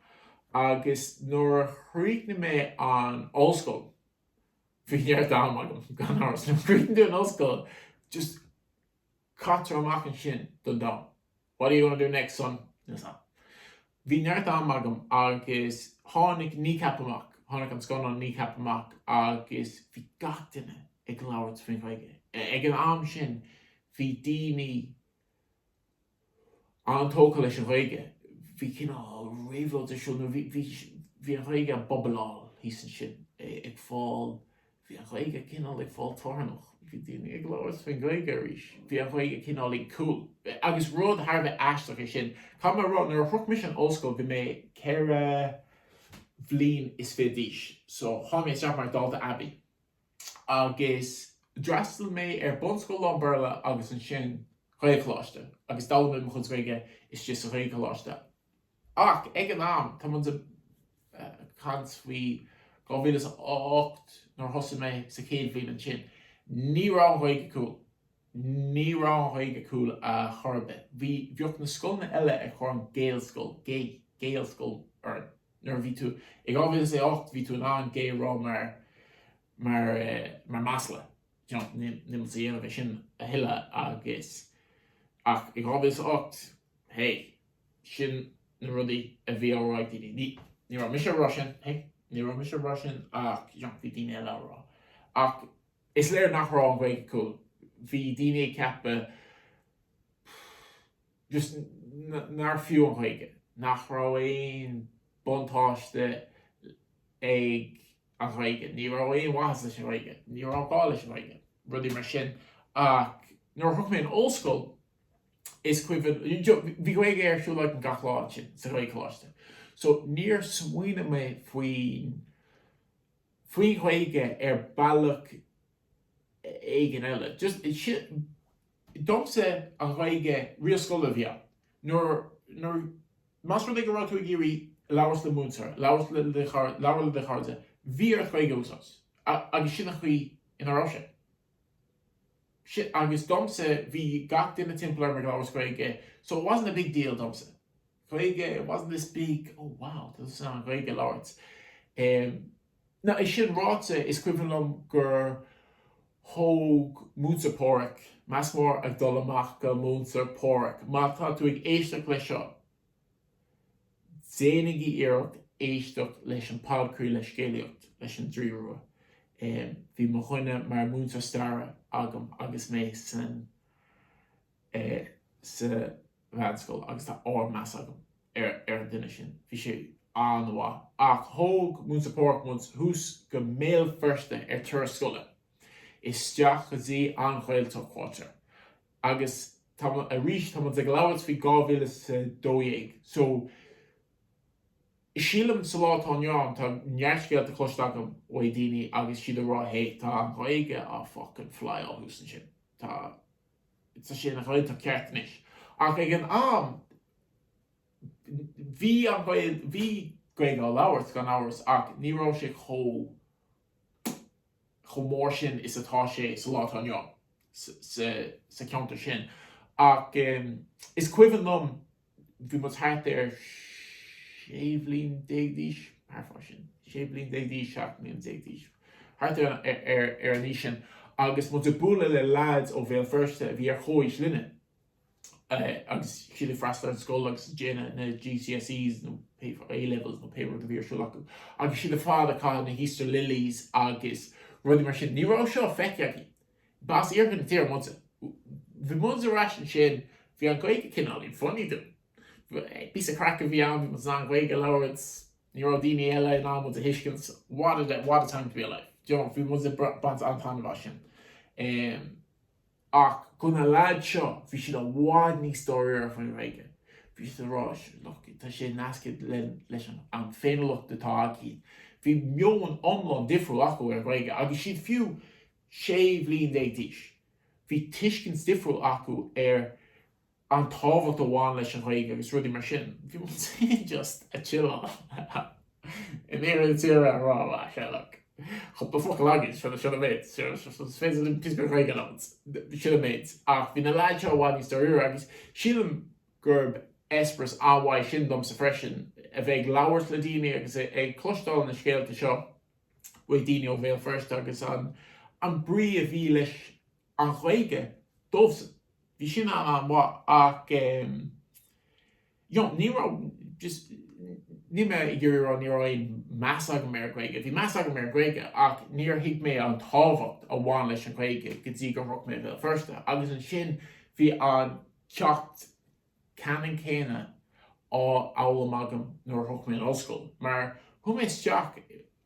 Agus nuair a chríochnaigh mé an ollscoil, bhí neart am agam, gan amhras, nuair a chríochnaíonn tú an ollscoil just caitear amach ansin don domhan. What are you gonna do next son? Is ea. Bhí neart am agam agus tháinig Kneecap amach, tháinig an scannán Kneecap amach agus bhí gach duine ag labhairt faoin Ghaeilge. Ag an am sin bhí daoine an-tógtha leis an Ghaeilge, bhí cineál réabhlóid ar siúl nó bhí an Ghaeilge ag bubbleáil thíos ansin, ag fáil Bhí an Ghaeilge cineál ag fáil tarraingteach. Bhí daoine ag labhairt faoin Ghaeilge arís. Bhí an Ghaeilge cineál cool. Agus rud thar a bheith aisteach é sin, caithfidh mé a rá, nuair a shroich mise an ollscoil bhí mé ceithre bliana is fiche d'aois. So, tháinig mé isteach mar dalta aibí. Agus d'fhreastal mé ar bunscoil lán-Bhéarla agus ansin Gaelcholáiste. Agus d'fhoghlaim mé mo chuid Gaeilge istigh sa Ghaelcholáiste. Ach ag an am, tá muid ag caint faoi 2008 nuair a thosaigh mé sa chéad bhliain ansin, ní raibh an Ghaeilge cool. Ní raibh an Ghaeilge cool ar chor ar bith. Bhí, bhíodh na scoileanna eile ag cur an gay scoil, gay scoil orainn. Nuair a bhí tú, i 2008 bhí tú in ann gay a rá mar, mar, mar masla, you know, níl, níl muid ag déanamh é sin a thuilleadh agus, ach i 2008, hey. Sin na rudaí a bhí á rá ag daoine. Ní raibh mise ag rá sin, hé, ní raibh mise ag rá sin ach bhí daoine eile á rá. Ach is léir nach raibh an Ghaeilge cool, bhí daoine ag ceapadh just nár fiú an Ghaeilge, nach raibh aon buntáiste ag an Ghaeilge, ní raibh aon mhaitheas leis an Ghaeilge, ní raibh gá leis an Ghaeilge, rudaí mar sin. Ach nuair a shroich mé an ollscoil, is cuimhin liom, bhí Gaeilge ar siúl againn gach lá ansin sa Ghaelcholáiste so níor smaoinigh mé faoin, faoin Ghaeilge ar bealach éigin eile. Just, sin, domsa an Ghaeilge, riail scoile a bhí ann. Nuair, nuair, más rud é go raibh tú ag iarraidh labhairt le múinteoir, labhairt le do chairde, bhí ort Gaeilge a úsáid agus sin an chaoi ina raibh sé. agus domsa bhí gach duine timpeall orm ag labhairt Gaeilge so it wasn't a big deal domsa Gaeilge it wasn't this big oh wow tá tusa in ann Gaeilge a labhairt. Now é sin ráite is cuimhin liom gur thóg Múinteoir Páraic meas mór ag dul amach go Múinteoir Páraic má tá tú ag éisteacht leis seo Déanaigí iarracht éisteacht leis an podchraoladh le scéalaíocht leis an Draoi Rua. Bhí mo dhuine mar mhúinteoir staire agam agus mé san sa mheánscoil agus tá ardmheas agam ar an duine sin. Bhí sé an-mhaith. Ach thóg Múinteoir Páraic muid thuas go mBéal Feirste ar turas scoile, isteach go dtí an Ghaeltacht Quarter. Agus tá muid, arís, tá muid ag labhairt faoi dhá mhíle is a dó dhéag. So, sílim, sa lá atá inniu ann, tá neart scéalta cloiste agam ó dhaoine agus siad ag rá, hé, tá an Ghaeilge á fuckin' flyáil thuas ansin. Tá, tá sé ina Ghaeltacht cheart anois. Ach ag an am, bhí an Ghaeilge, bhí Gaeilge á labhairt, gan amhras, ach ní raibh sé chomh chomh mór sin is atá sé sa lá atá inniu sa cheantar sin. Ach is cuimhin liom, bhí muid thart ar sé bhliain déag d'aois, thart fá sin, sé bhliain déag d'aois, seacht mbliain déag d'aois, thart ar an aois sin, agus muid ag bualadh le lads ó Bhéal Feirste a bhí ar chomhaois linne. agus siad ag freastal ar an scoil agus ag déanamh na GCSEs nó A-levels nó pé rud a bhí ar siúl acu. Agus siad ar fad ag caitheamh na hEaster lilies agus rudaí mar sin. Ní raibh seo feicthe againn. B'as iarthar na tíre muidne. Bhí muid ar ais ansin, bhí an Ghaeilge cineál ina funny dúinn. Píosa craic a bhí ann, bhí muid in ann Gaeilge a labhairt, ní raibh daoine eile in ann muid a thuiscint. What a time to be alive. Bhí muid ag baint an-taitneamh as sin. Ach go na lads seo, bhí siad i bhfad níos dáiríre faoin Ghaeilge. Bhí siad a rá, sure, look, tá sé nasctha linn, leis an, an féiniúlacht atá againn. Bhí meon iomlán difriúil acu ar an Ghaeilge agus siad fiú sé bhliain déag d'aois. Bhí tuiscint difriúil acu ar an tábhacht a bhain leis an Ghaeilge agus rudaí mar sin. Bhí mise just ag chilleáil in iarthar na tíre ag rá sure look cúpla focal againn seo na sionaibéid seo is féidir liom píosa Gaeilge a labhairt na sionaibéid ach bhí na leaids seo i bhfad níos dáiríre agus sílim gurb eispéireas an-mhaith sin domsa freisin a bheith ag labhairt le daoine agus ag cloisteáil na scéalta seo uaidh daoine ó Bhéal Feirste agus an brí a bhí leis An Ghaeilge, dóibhsean, bhí sin an-mhaith ach em. you know ní raibh just níl mé ag iarraidh a rá ní raibh aon mheas agam ar an Ghaeilge. Bhí meas agam ar an Ghaeilge ach níor thuig mé an tábhacht a bhain leis an Ghaeilge go dtí gur shroich mé Bhéal Feirste agus ansin bhí an ceacht ceannann céanna á fhoghlaim agam nuair a shroich mé an ollscoil mar chuaigh mé isteach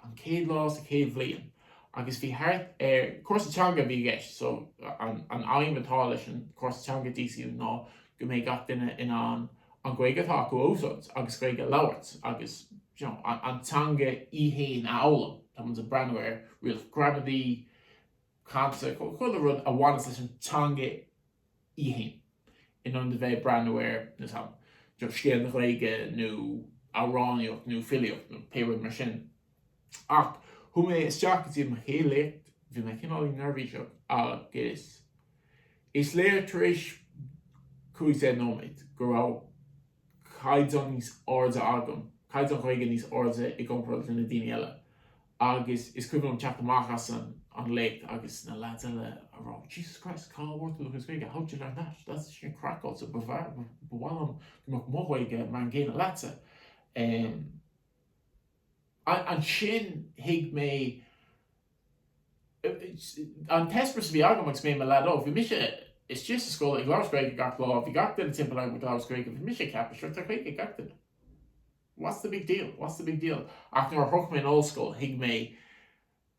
an chéad lá sa chéad bhliain agus bhí thart ar. Cúrsa teanga a bhí i gceist so an aidhm atá leis an chúrsa teanga DCU ná go mbeidh gach duine in ann an Ghaeilge atá acu a úsáid agus Gaeilge a labhairt agus an teanga í fhéin a fhoghlaim. Tá muid ag breathnú ar rialacha gramadaí, cainte, chuile rud a bhaineas leis an teanga í fhéin. In ionad a bheith ag breathnú ar, níl a fhios agam, just scéal na Gaeilge nó amhránaíocht nó filíocht nó pé rud mar sin. Ach chuaigh mé isteach go dtí mo chéad léacht, bhí mé cineál neirbhíseach agus is léir tar éis cúig deich nóiméad go raibh caighdeán níos airde agam, caighdeán Ghaeilge níos airde i gcomparáid le na daoine eile Agus is cuimhin liom teacht amach as an léacht agus na leaids eile ag rá, Jesus Christ, cá bhfuair tú do chuid Gaeilge, how did you learn that? That's sin craiceáilte, ba mhaith liom go mbeadh mo Ghaeilge mar an gcéanna leatsa. Ansin thuig mé, an t-eispéireas a bhí agam agus mé i mo leaid óg, bhí mise istigh sa scoil ag labhairt Gaeilge gach lá, bhí gach duine timpeall orm ag labhairt Gaeilge, bhí mise ag ceapadh, sure, tá Gaeilge ag gach duine. what's the big deal, what's the big deal? Ach nuair a shroich mé an ollscoil, thuig mé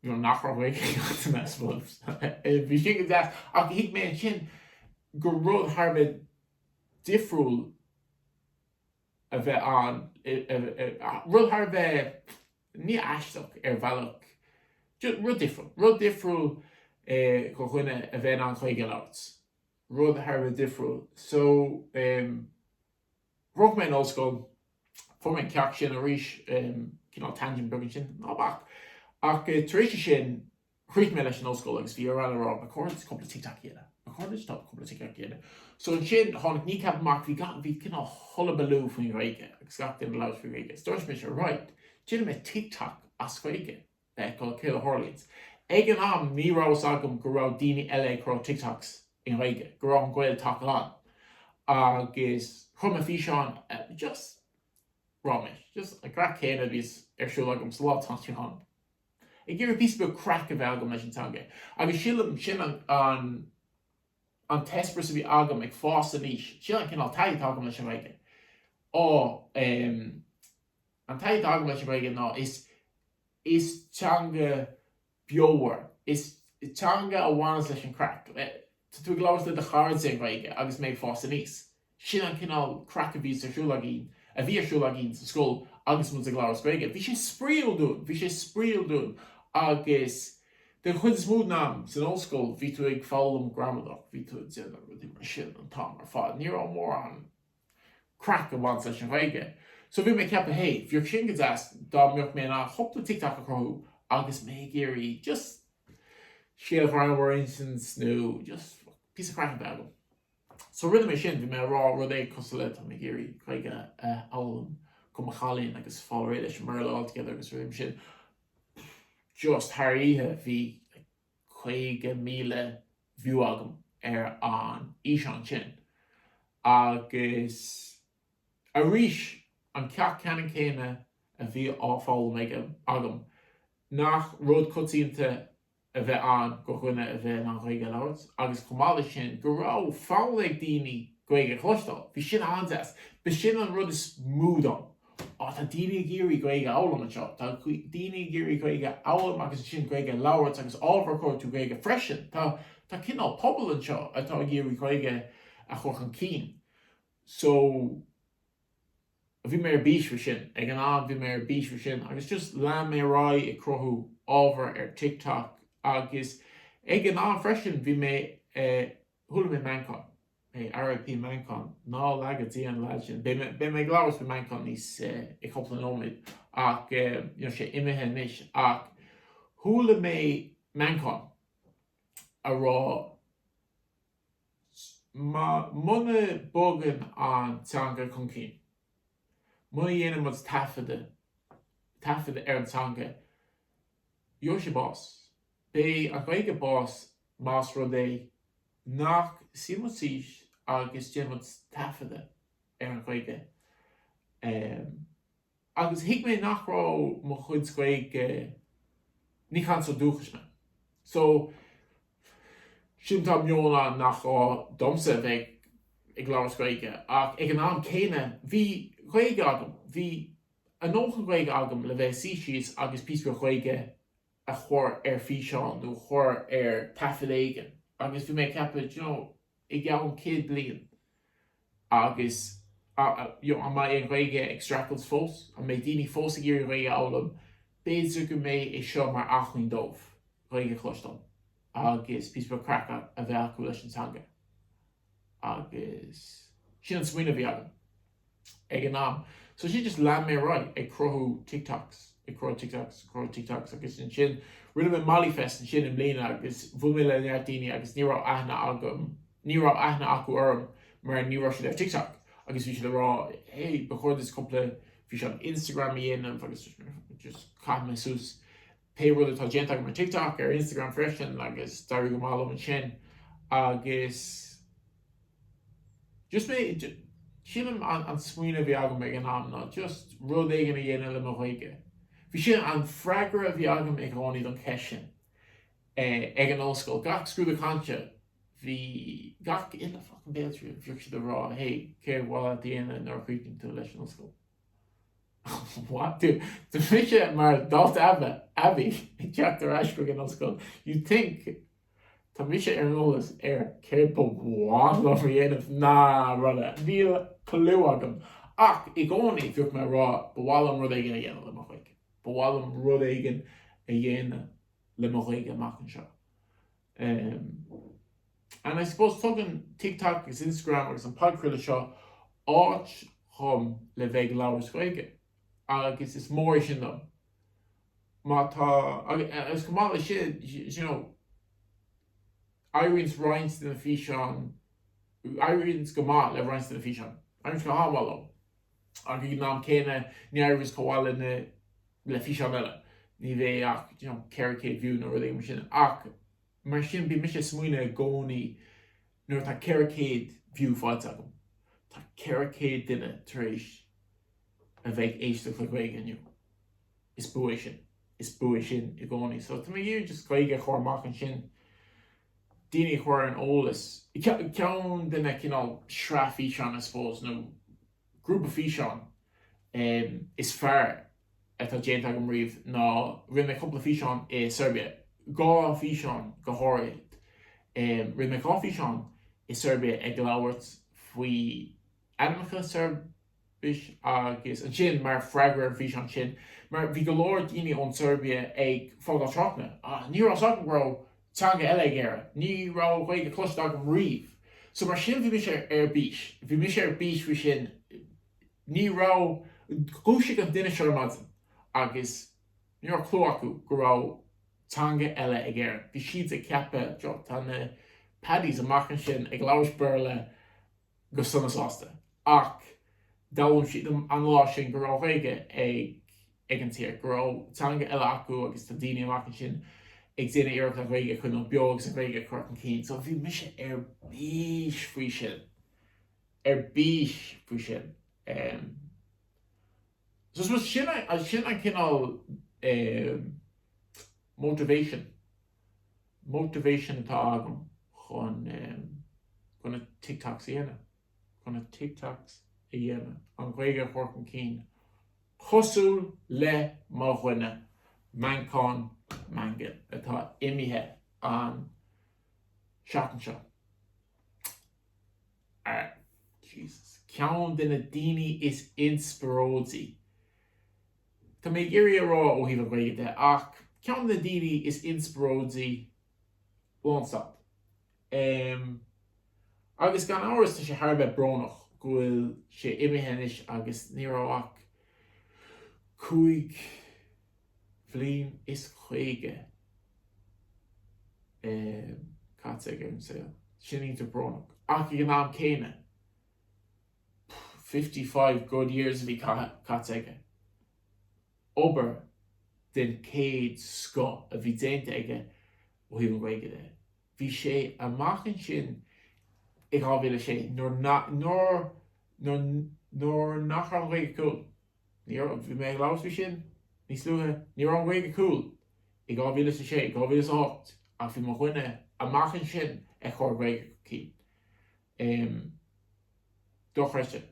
you know nach raibh Gaeilge, I suppose. Bhí sin go deas, ach thuig mé ansin gur rud thar a bheith difriúil a bheith ann, rud thar a bheith, ní aisteach ar bhealach, rud difriúil, rud difriúil do dhuine a bheith in ann Gaeilge a labhairt, rud thar a bheith difriúil. So. Shroich mé an ollscoil, fuair mé an ceacht sin arís, cineál tangent beag ansin, ná bac! Ach tar éis é sin, chríochnaigh mé leis an ollscoil agus bhí Órla ag rá, ba chóir duit cúpla TikTok a dhéanamh, ba chóir duit cúpla TikTok a dhéanamh. So ansin, tháinig Kneecap amach, bhí gach, bhí cineál hullabaloo faoin Ghaeilge agus gach duine ag labhairt faoin Ghaeilge. Is dúirt mise, right, déanfaidh mé TikTok as Gaeilge. fheiceáil céard a tharlaíonns. Ag an am ní raibh fhios agam go raibh daoine eile ag cruthú TikToks i nGaeilge, go raibh an GaelTok ann agus chum mé físeán just ráiméis, just an craic céanna a bhíos ar siúl agam sa lá atá inniu ann. Ag iarraidh píosa beag craic a bheith agam leis an teanga agus sílim sin an an an t-eispéireas a bhí agam ag fás aníos, sin an cineál taithí atá agam leis an nGaeilge. Á, em. An taithí atá agam leis an Ghaeilge ná is is teanga beomhar, is teanga a bhaineas leis an craic. Tá tú ag labhairt le do chairde i nGaeilge agus mé ag fás aníos. Sin an cineál craic a bhí ar siúl againn, a bhí ar siúl againn sa scoil agus muid ag labhairt Gaeilge. Bhí sé spraíúil dúinn, bhí sé spraíúil dúinn agus den chuid is mó den am san ollscoil bhí tú ag foghlaim gramadach, bhí tú ag déanamh rudaí mar sin an t-am ar fad. Ní raibh mórán craic ag baint leis an Ghaeilge. So bhí mé ag ceapadh hé, bheadh sin go deas dá mbeadh mé in ann cúpla TikTok a chruthú agus mé ag iarraidh just scéal greannmhar a insint nó just píosa craic a bheith agam. So rinne mé sin, bhí mé ag rá rud éigin cosúil le tá mé ag iarraidh Gaeilge a fhoghlaim do mo chailín agus fáil réidh leis an mBéarla altogether agus rinne mé sin just thar oíche bhí 50,000 view agam ar an fhíseán sin agus arís an ceacht ceannann céanna a bhí á fhoghlaim agam, nach rud coitianta a bhí ann do dhuine a bheith in ann Gaeilge a labhairt agus chomh maith leis sin go raibh fonn ag daoine Gaeilge a chloisteáil. Bhí sin an-deas. B'shin an rud is mó dom. Ná tá daoine ag iarraidh Gaeilge a fhoghlaim anseo, tá daoine ag iarraidh Gaeilge a fhoghlaim agus ansin Gaeilge a labhairt agus ábhar a chruthú Gaeilge freisin. Tá tá cineál pobal anseo atá ag iarraidh Gaeilge a chur chun cinn. So bhí mé ar bís faoi sin. Ag an am bhí mé ar bís faoi sin agus just lean mé ar aghaidh ag cruthú ábhar ar TikTok agus ag an am freisin bhí mé eh, Chuala mé Manchán. Hey, R.I.P. Manchán. Ná laga Dia an legend. Beidh mé ag labhairt faoi Manchán níos i cúpla nóiméad ach tá sé imithe anois ach chuala mé Manchán a rá muna bogann an teanga chun cinn, muna dhéanann muid taifeadadh ar an teanga, gheobhaidh sí bás. Beidh an Ghaeilge bás más rud é nach suímid síos agus déanfaimid taifeadadh ar an Ghaeilge. Agus thuig mé nach raibh mo chuid Gaeilge, ní cainteoir dúchais mé. So, sin tá meon ann nach gá domsa a bheith ag labhairt Gaeilge ach ag an am céanna bhí Gaeilge agam, bhí an dóthain Gaeilge agam le bheith ag suí síos agus píosa beag Gaeilge a chur ar físeán nó a chur ar taifead éigin agus bhí mé ag ceapadh do you know i gceann céad bliain agus a you know an mbeidh an Ghaeilge ag streachailt fós? An mbeidh daoine fós ag iarraidh Gaeilge a fhoghlaim? B'fhéidir go mbeidh é seo mar acmhainn dóibh Gaeilge a chloisteáil agus píosa beag craice a bheith acu leis an teanga. agus sin an smaoineamh a bhí agam ag an am. So sin just lean mé ar aghaidh ag cruthú TikToks, ag cruthú TikToks, ag cruthú TikToks agus ansin rinne mé Mollyfest ansin i mbliana agus bhuail mé le neart daoine agus ní raibh aithne agam, ní raibh aithne acu orm mar ní raibh siad ar TikTok agus bhí siad ag rá hey ba chóir duit cúpla físeán Instagram a dhéanamh agus just chaith mé suas Pé rud atá déanta agam ar TikTok, ar Instagram freisin agus d'éirigh go maith liom ansin agus just mé, sílim an smaoineamh a bhí agam ag an am ná just rud éigin a dhéanamh le mo Ghaeilge. Bhí sin an freagra a bhí agam i gcónaí don cheist sin ag an ollscoil. Gach scrúdú cainte bhí gach uile fucking béaltriail, bhíodh siad ag rá hey, céard ba mhaith leat a dhéanamh nuair a chríochnaíonn tú leis an ollscoil? What? Tá mise mar dalta aibhe, aibí, ag teacht ar ais chuig an ollscoil. You think Tá mise ar an eolas ar céard ba mhaith liom a dhéanamh ná rudaí. Níl clue agam. Ach i gcónaí bhíodh mé ag rá ba mhaith liom rud éigin a dhéanamh le mo Ghaeilge. Ba mhaith liom rud éigin a dhéanamh le mo Ghaeilge amach anseo. And I suppose tugann TikTok agus Instagram agus an podchraoladh seo áit dhom le bheith ag labhairt Gaeilge agus is mór é sin dom. Má tá, agus chomh maith le sin, you know, éiríonns roinnt de na físeáin, éiríonns go maith le roinnt de na físeáin, éiríonns go han-mhaith leo. Ach ag an am céanna ní éiríonns chomh maith le le físeáin eile. Ní bheidh é ach you know 400 view nó rud éigin mar sin. Ach mar sin bíonn mise ag smaoineamh i gcónaí nuair atá 400 view faighte agam. Tá 400 duine tar éis a bheith ag éisteacht le Gaeilge inniu. Is bua é sin. Is bua é sin i gcónaí. So tá mé ag iarraidh just Gaeilge a chur amach ansin. daoine a chur ar an eolas, ceann de na cineál sraith-físeán I suppose nó grúpa físeán is fearr atá déanta agam riamh ná rinne mé cúpla físeán i Seirbia, dhá físeán go háirithe. Rinne mé dhá físeán i Seirbia ag labhairt faoi ainmneacha Seirbis agus ansin mar freagra ar an bhfíseán sin mar bhí go leor daoine ón tSeirbia ag fágáil tráchtanna ní raibh a fhios agam go raibh teanga eile ag Éire, ní raibh Gaeilge cloiste agam riamh. So mar sin bhí mise ar bís, bhí mise ar bís faoi sin, ní raibh, dhúisigh an duine seo ar maidin agus ní raibh clú acu go raibh teanga eile ag Éire, bhí siad ag ceapadh, you know, tá na Paddies amach ansin ag labhairt Béarla go sona sásta. Ach d'fhoghlaim siad an lá sin go raibh Gaeilge ag an tír, go raibh teanga eile acu agus tá daoine amach ansin ag déanamh iarracht an Ghaeilge a choinneáil beo agus an Ghaeilge a chur chun cinn. So bhí mise ar bís faoi sin. Ar bís faoi sin. So suppose sin a, sin an cineál eh, motivation, motivation atá agam chun eh, chun na TikToks a dhéanamh, chun na TikToks a dhéanamh, an Ghaeilge a thabhairt chun cinn, cosúil le mo dhuine, Manchán Magan, atá imithe an seachtain seo. Jesus. Ceann de na daoine is inspioróidí, tá mé ag iarraidh a rá ó thaobh an Ghaeilge de, ach ceann de na daoine is inspioróidí lánstad. Em. Agus gan amhras tá sé thar a bheith brónach go bhfuil sé imithe anois agus ní raibh ach cúig. bhliain is caoga caite aige ar an saol. Sin iontach brónach. Ach ag an am céanna, fifty five good years a bhí caite aige. Obair den chéad scoth a bhí déanta aige ó thaobh an Ghaeilge de. Bhí sé amach ansin i 2006 nuair nach raibh an Ghaeilge cool. Ní raibh, bhí mé ag labhairt faoi sin níos luaithe, ní raibh an Ghaeilge cool i 2006, 2008 ach bhí mo dhuine amach ansin ag cur Gaeilge chun cinn. Em, dochreidte.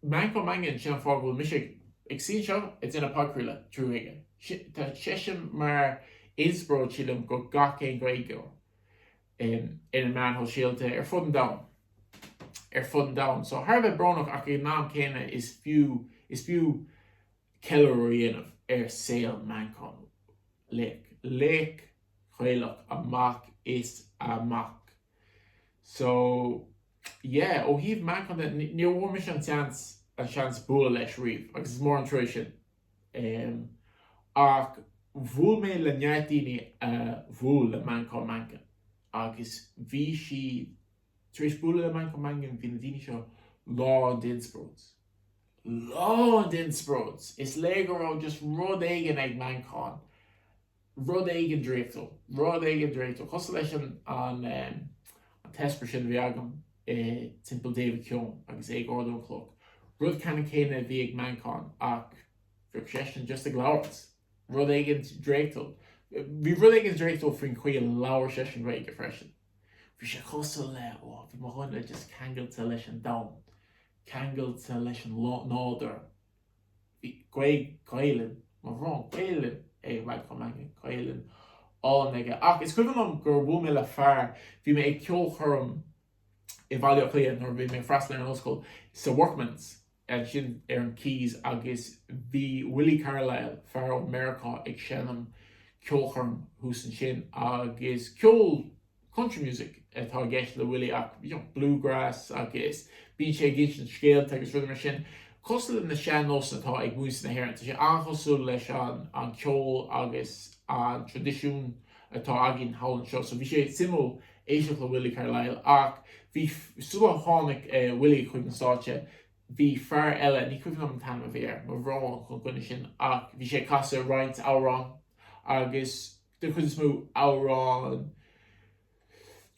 Manchán Magan, sin an fáth go bhfuil mise ag suí anseo ag déanamh podchraoladh trí Ghaeilge. Tá seisean mar inspioráid, sílim, do gach aon Ghaeilgeoir. i na meáin shóisialta ar fud an domhain. ar fud an domhain. So thar a bheith brónach ach ag an am céanna is fiú is fiú ceiliúradh a dhéanamh ar saol Manchán. Laoch. Laoch Ghaelach amach is amach. So yeah, ó thaobh Manchán de ní bhfuair mise an seans an seans bualadh leis riamh agus is mór an trua sin. Em. Ach bhuail mé le neart daoine a bhuail le Manchán Magan. Agus bhí siad, tar éis bualadh le Manchán Magan, bhí na daoine seo lán d'inspioráid. Lán d'inspioráid! Is léir go raibh just rud éigin ag Manchán rud éigin draíochtúil, rud éigin draíochtúil, cosúil leis an, an, an t-eispéireas sin a bhí agam i timpeall David Keohan agus é ag ardú an chloch. Rud ceannann céanna a bhí ag Manchán ach bhí seisean just ag labhairt. Rud éigin draíochtúil. Bhí rud éigin draíochtúil faoin chaoi a labhair seisean Gaeilge freisin. Bhí sé cosúil le, ó, bhí mo dhuine just ceangailte leis an domhan, ceangailte leis an nádúr, Bhí Gaeilge, Gaelainn, mo bhrón, Gaelainn é a bheadh chomh maith, Gaelainn, álainn aige. Ach is cuimhin liom gur bhuail mé le fear, bhí mé ag ceolchoirm i Bhaile Átha Cliath nuair a bhí mé ag freastal ar an ollscoil, sa Workman's, ansin ar an Quays, agus bhí Willie Carlisle, fear ó Mheiriceá, ag seinm ceolchoirm thuas ansin agus ceol, Country music atá i gceist le Willie ach bluegrass agus bíonn sé ag insint scéalta agus rudaí mar sin. Cosúil le na sean nósanna atá ag muintir na hÉireann, tá sé an-chosúil leis an ceol agus an tradisiún atá againn thall anseo. So bhí sé suimiúil éisteacht le Willie Carlisle ach bhí, sula tháinig Willie chuig an stáitse, bhí fear eile, ní cuimhin liom an t-ainm a bhí air, mo bhrón chun an duine sin, ach bhí sé ag casadh roinnt amhrán agus, Den chuid is mó, amhráin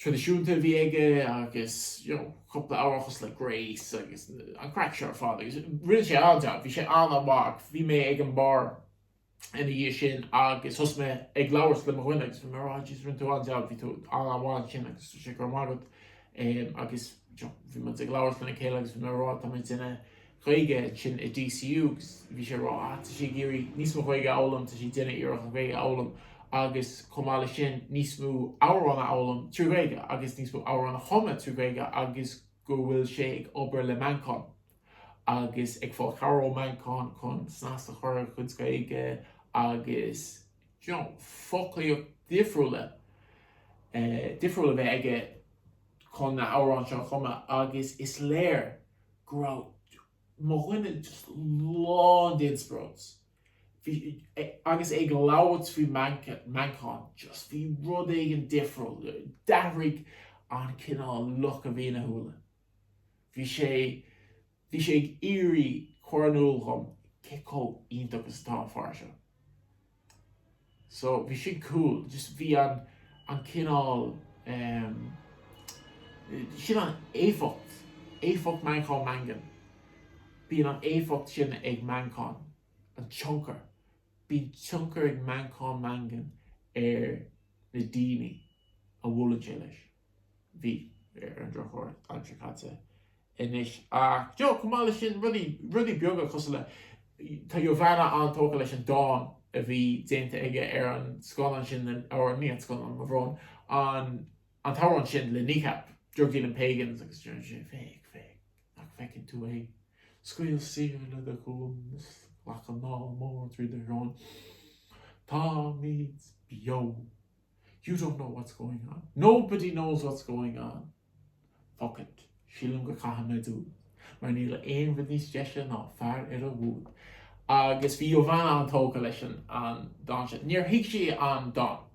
traidisiúnta a bhí aige agus you know cúpla amhrán cosúil le Grace agus an craic seo ar fad agus rinne sé an-jab, bhí sé an-mhaith. Bhí mé ag an bar ina dhiaidh sin agus thosaigh mé ag labhairt le mo dhuine agus bhí mé oh jeez rinne tú an-jab, bhí tú an-mhaith ansin agus dúirt sé go raibh maith agat. Agus you know bhí muid ag labhairt lena chéile agus bhí mé ag rá tá mé ag déanamh Gaeilge sin i DCU agus bhí sé ag rá ah tá sé ag iarraidh níos mó Ghaeilge a fhoghlaim, tá sé ag déanamh iarracht an Ghaeilge a fhoghlaim agus chomh maith leis sin níos mó amhrán a fhoghlaim trí Ghaeilge agus níos mó amhrán a chumadh trí Ghaeilge agus go bhfuil sé ag obair le Manchán agus ag fáil cabhair ó Manchán chun snas a chur ar a chuid Gaeilge agus you know foclaíocht difriúla difriúil a bheith aige chun na amhrán seo a chumadh agus is léir go raibh mo dhuine just lán d'inspioráid. Agus é ag labhairt faoi Manchán, just bhí rud éigin difriúil, d'athraigh an cineál look a bhí ina shúile. Bhí sé, bhí sé ag iarraidh cur in iúl dhom cé chomh iontach is atá an fear seo. So bhí sin cool, just bhí an cineál ehm sin an éifeacht, éifeacht Manchán Magan. Bíonn an éifeacht sin ag Manchán, an tionchar. Bíonn tionchar ag Manchán Magan ar na daoine a bhuaileann sé leis. Bhí, ar an drochuair, san am atá caite anois, ach, you know, chomh maith le sin, rudaí, rudaí beaga cosúil le, tá Jovana an-tógtha leis an dán a bhí déanta aige ar an scannán sin le, or ní an scannán, mo bhrón, an, an t-amhrán sin le Kneecap, Drug Dealing Pagans agus deireann sé, féach, nach bhfeiceann tú é? Scaoil saor le do dhroim is glac anáil mór trí do shrón. Táimid beo! You don't know what's going on. Nobody knows what's going on. Fuck it. Sílim go gcaithfidh muid dúid. Mar níl aon rud níos deise ná fear ar a bhod. Agus bhí Jovana an-tógtha leis an dán sin. Níor thuig sí an dán.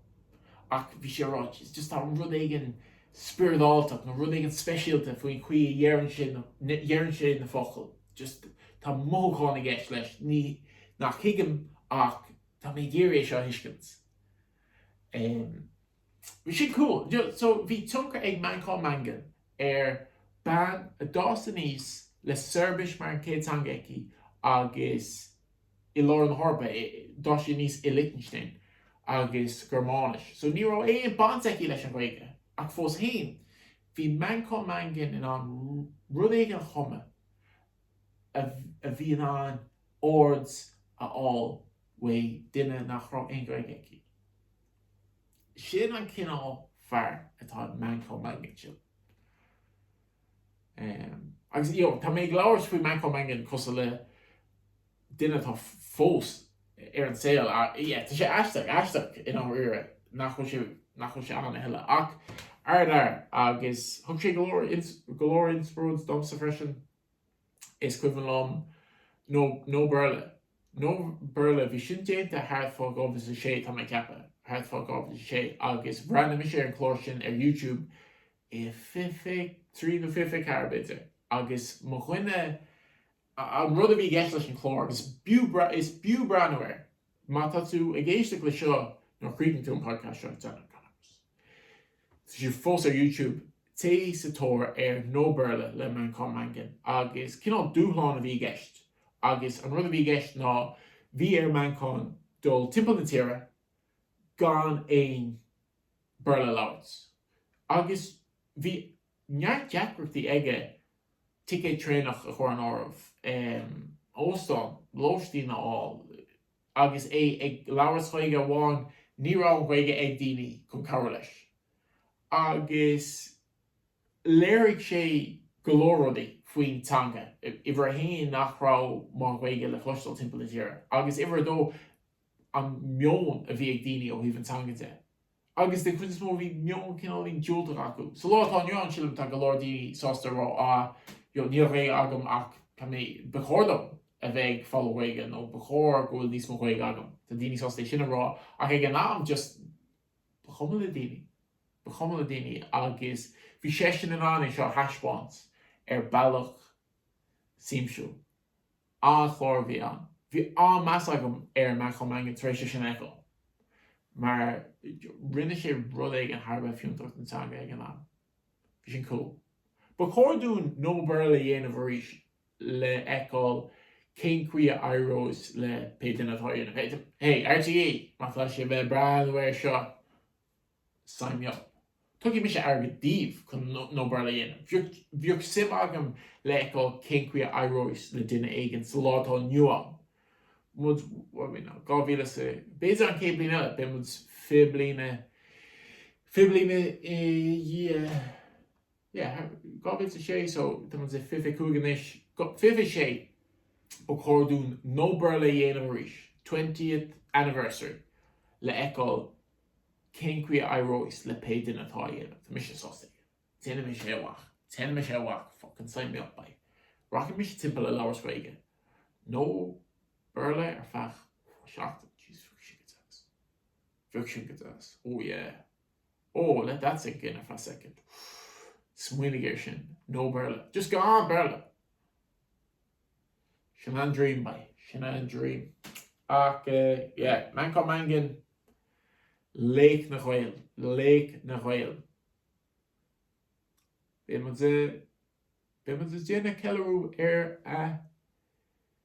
Ach bhí sí ag rá, jeez, just tá rud éigin spioradáltach nó rud éigin speisialta faoin chaoi a deireann sé na focail. Just tá mothúchán i gceist leis. Ní, nach thuigim ach tá mé ag iarraidh é seo a thuiscint. Em. Sin cúl. So bhí tionchar ag Manchán Magan ar bean a d'fhás aníos le Seirbis mar an chéad teanga aici agus i lár na hEorpa, d'fhás sí aníos i Lichtinstéin agus Gearmáinis. So ní raibh aon baint aici leis an Ghaeilge ach fós féin bhí Manchán Magan in ann rud éigin a chumadh a bhí in ann aird a fháil uaidh duine nach raibh aon Ghaeilge aici. Sin an cineál fear atá in Manchán Magan. Agus you know, tá mé ag labhairt faoi Manchán Magan cosúil le duine atá fós ar an saol ach yeah, tá sé aisteach i ndáiríre nach bhfuil sé, nach bhfuil sé ann a thuilleadh ach, ardfhear, agus thug sé go leor, go leor inspioráid domsa freisin. Is cuimhin liom No Béarla. No Béarla, bhí sin déanta thart fá 2006 tá mé ag ceapadh, thart fá 2006 agus bhreathnaigh mise ar an chlár sin ar YouTube i fiche trí nó fiche ceathair b'fhéidir agus mo dhuine, an rud a bhí i gceist leis an chlár, is b'fhiú breathnú air. Má tá tú ag éisteacht leis seo nuair a chríochnaíonn tú an podcast seo, tá sé fós ar YouTube. Téigh sa tóir ar No Béarla le Manchán Magan agus cineál dúshlán a bhí i gceist agus an rud a bhí i gceist ná bhí ar Manchán dul timpeall na tíre gan aon Béarla a labhairt agus bhí neart deacrachtaí aige ticéad traenach a chur in áireamh, óstán, lóistín a fháil. Agus é ag labhairt sa Ghaeilge amháin ní raibh an Ghaeilge ag daoine chun cabhair leis. Agus léirigh sé go leor rudaí faoin teanga, uimhir a haon nach raibh mórán Ghaeilge le chloisteáil timpeall na tíre, agus uimhir a dó an meon a bhí ag daoine ó thaobh an teanga de. agus den chuid is mó bhí meon cineáilín diúltach acu. Sa lá atá inniu ann sílim tá go leor daoine sásta a rá ah ó níl Ghaeilge agam ach tá mé, ba chóir dom a bheith ag foghlaim Ghaeilge nó ba chóir go bhfuil níos mó Ghaeilge agam. Tá daoine sásta é sin a rá ach ag an am just ba chuma le daoine, ba chuma le daoine agus bhí seisean in ann é seo a thaispeáint ar bealach siamsúil. An-chlár a bhí ann. Bhí an-meas agam ar Manchán Magan tar éis é sin a fheiceáil mar rinne sé rud éigin thar a bheith fiúntach don teanga ag an am. Bhí sin cool. Ba chóir dúinn No Béarla a dhéanamh arís le fheiceáil cén chaoi a éireos le pé duine atá á dhéanamh. Hey, RTÉ! Má tá sibh ag breathnú air seo. Sign me up. Tugfaidh mise airgead daoibh chun No Béarla a dhéanamh. Bheadh, bheadh suim agam le fheiceáil cén chaoi a éireos le duine éigin sa lá atá inniu ann. Muid, what are we now, dhá mhíle is a, b'fhéidir an chéad bliain eile, beidh muid fiche bliana, fiche bliana i ndiaidh. yeah, 2006 so tá muid sa 25 anois, 26 ba chóir dúinn No Béarla a dhéanamh arís, 20th anniversary, le fheiceáil cén chaoi a éireos le pé duine atá á dhéanamh. Tá mise sásta. Déanfaidh mise é, a mhac. Déanfaidh mise é, a mhac, fucking sign me up boy. Rachaidh mise timpeall ag labhairt Gaeilge. No Béarla ar feadh seachtain, Jesus, bheadh sin go deas. Bheadh sin go deas, oh yeah. Oh, let that sink in for a second. Smaoinigh air sin. No Béarla. Just gan aon Béarla! Sin an dream, boy, sin an dream. Ach eh, yeah, Manchán Magan, laoch na Ghaeil, laoch na Ghaeil. Beidh muid, eh, beidh muid ag déanamh ceiliúradh ar a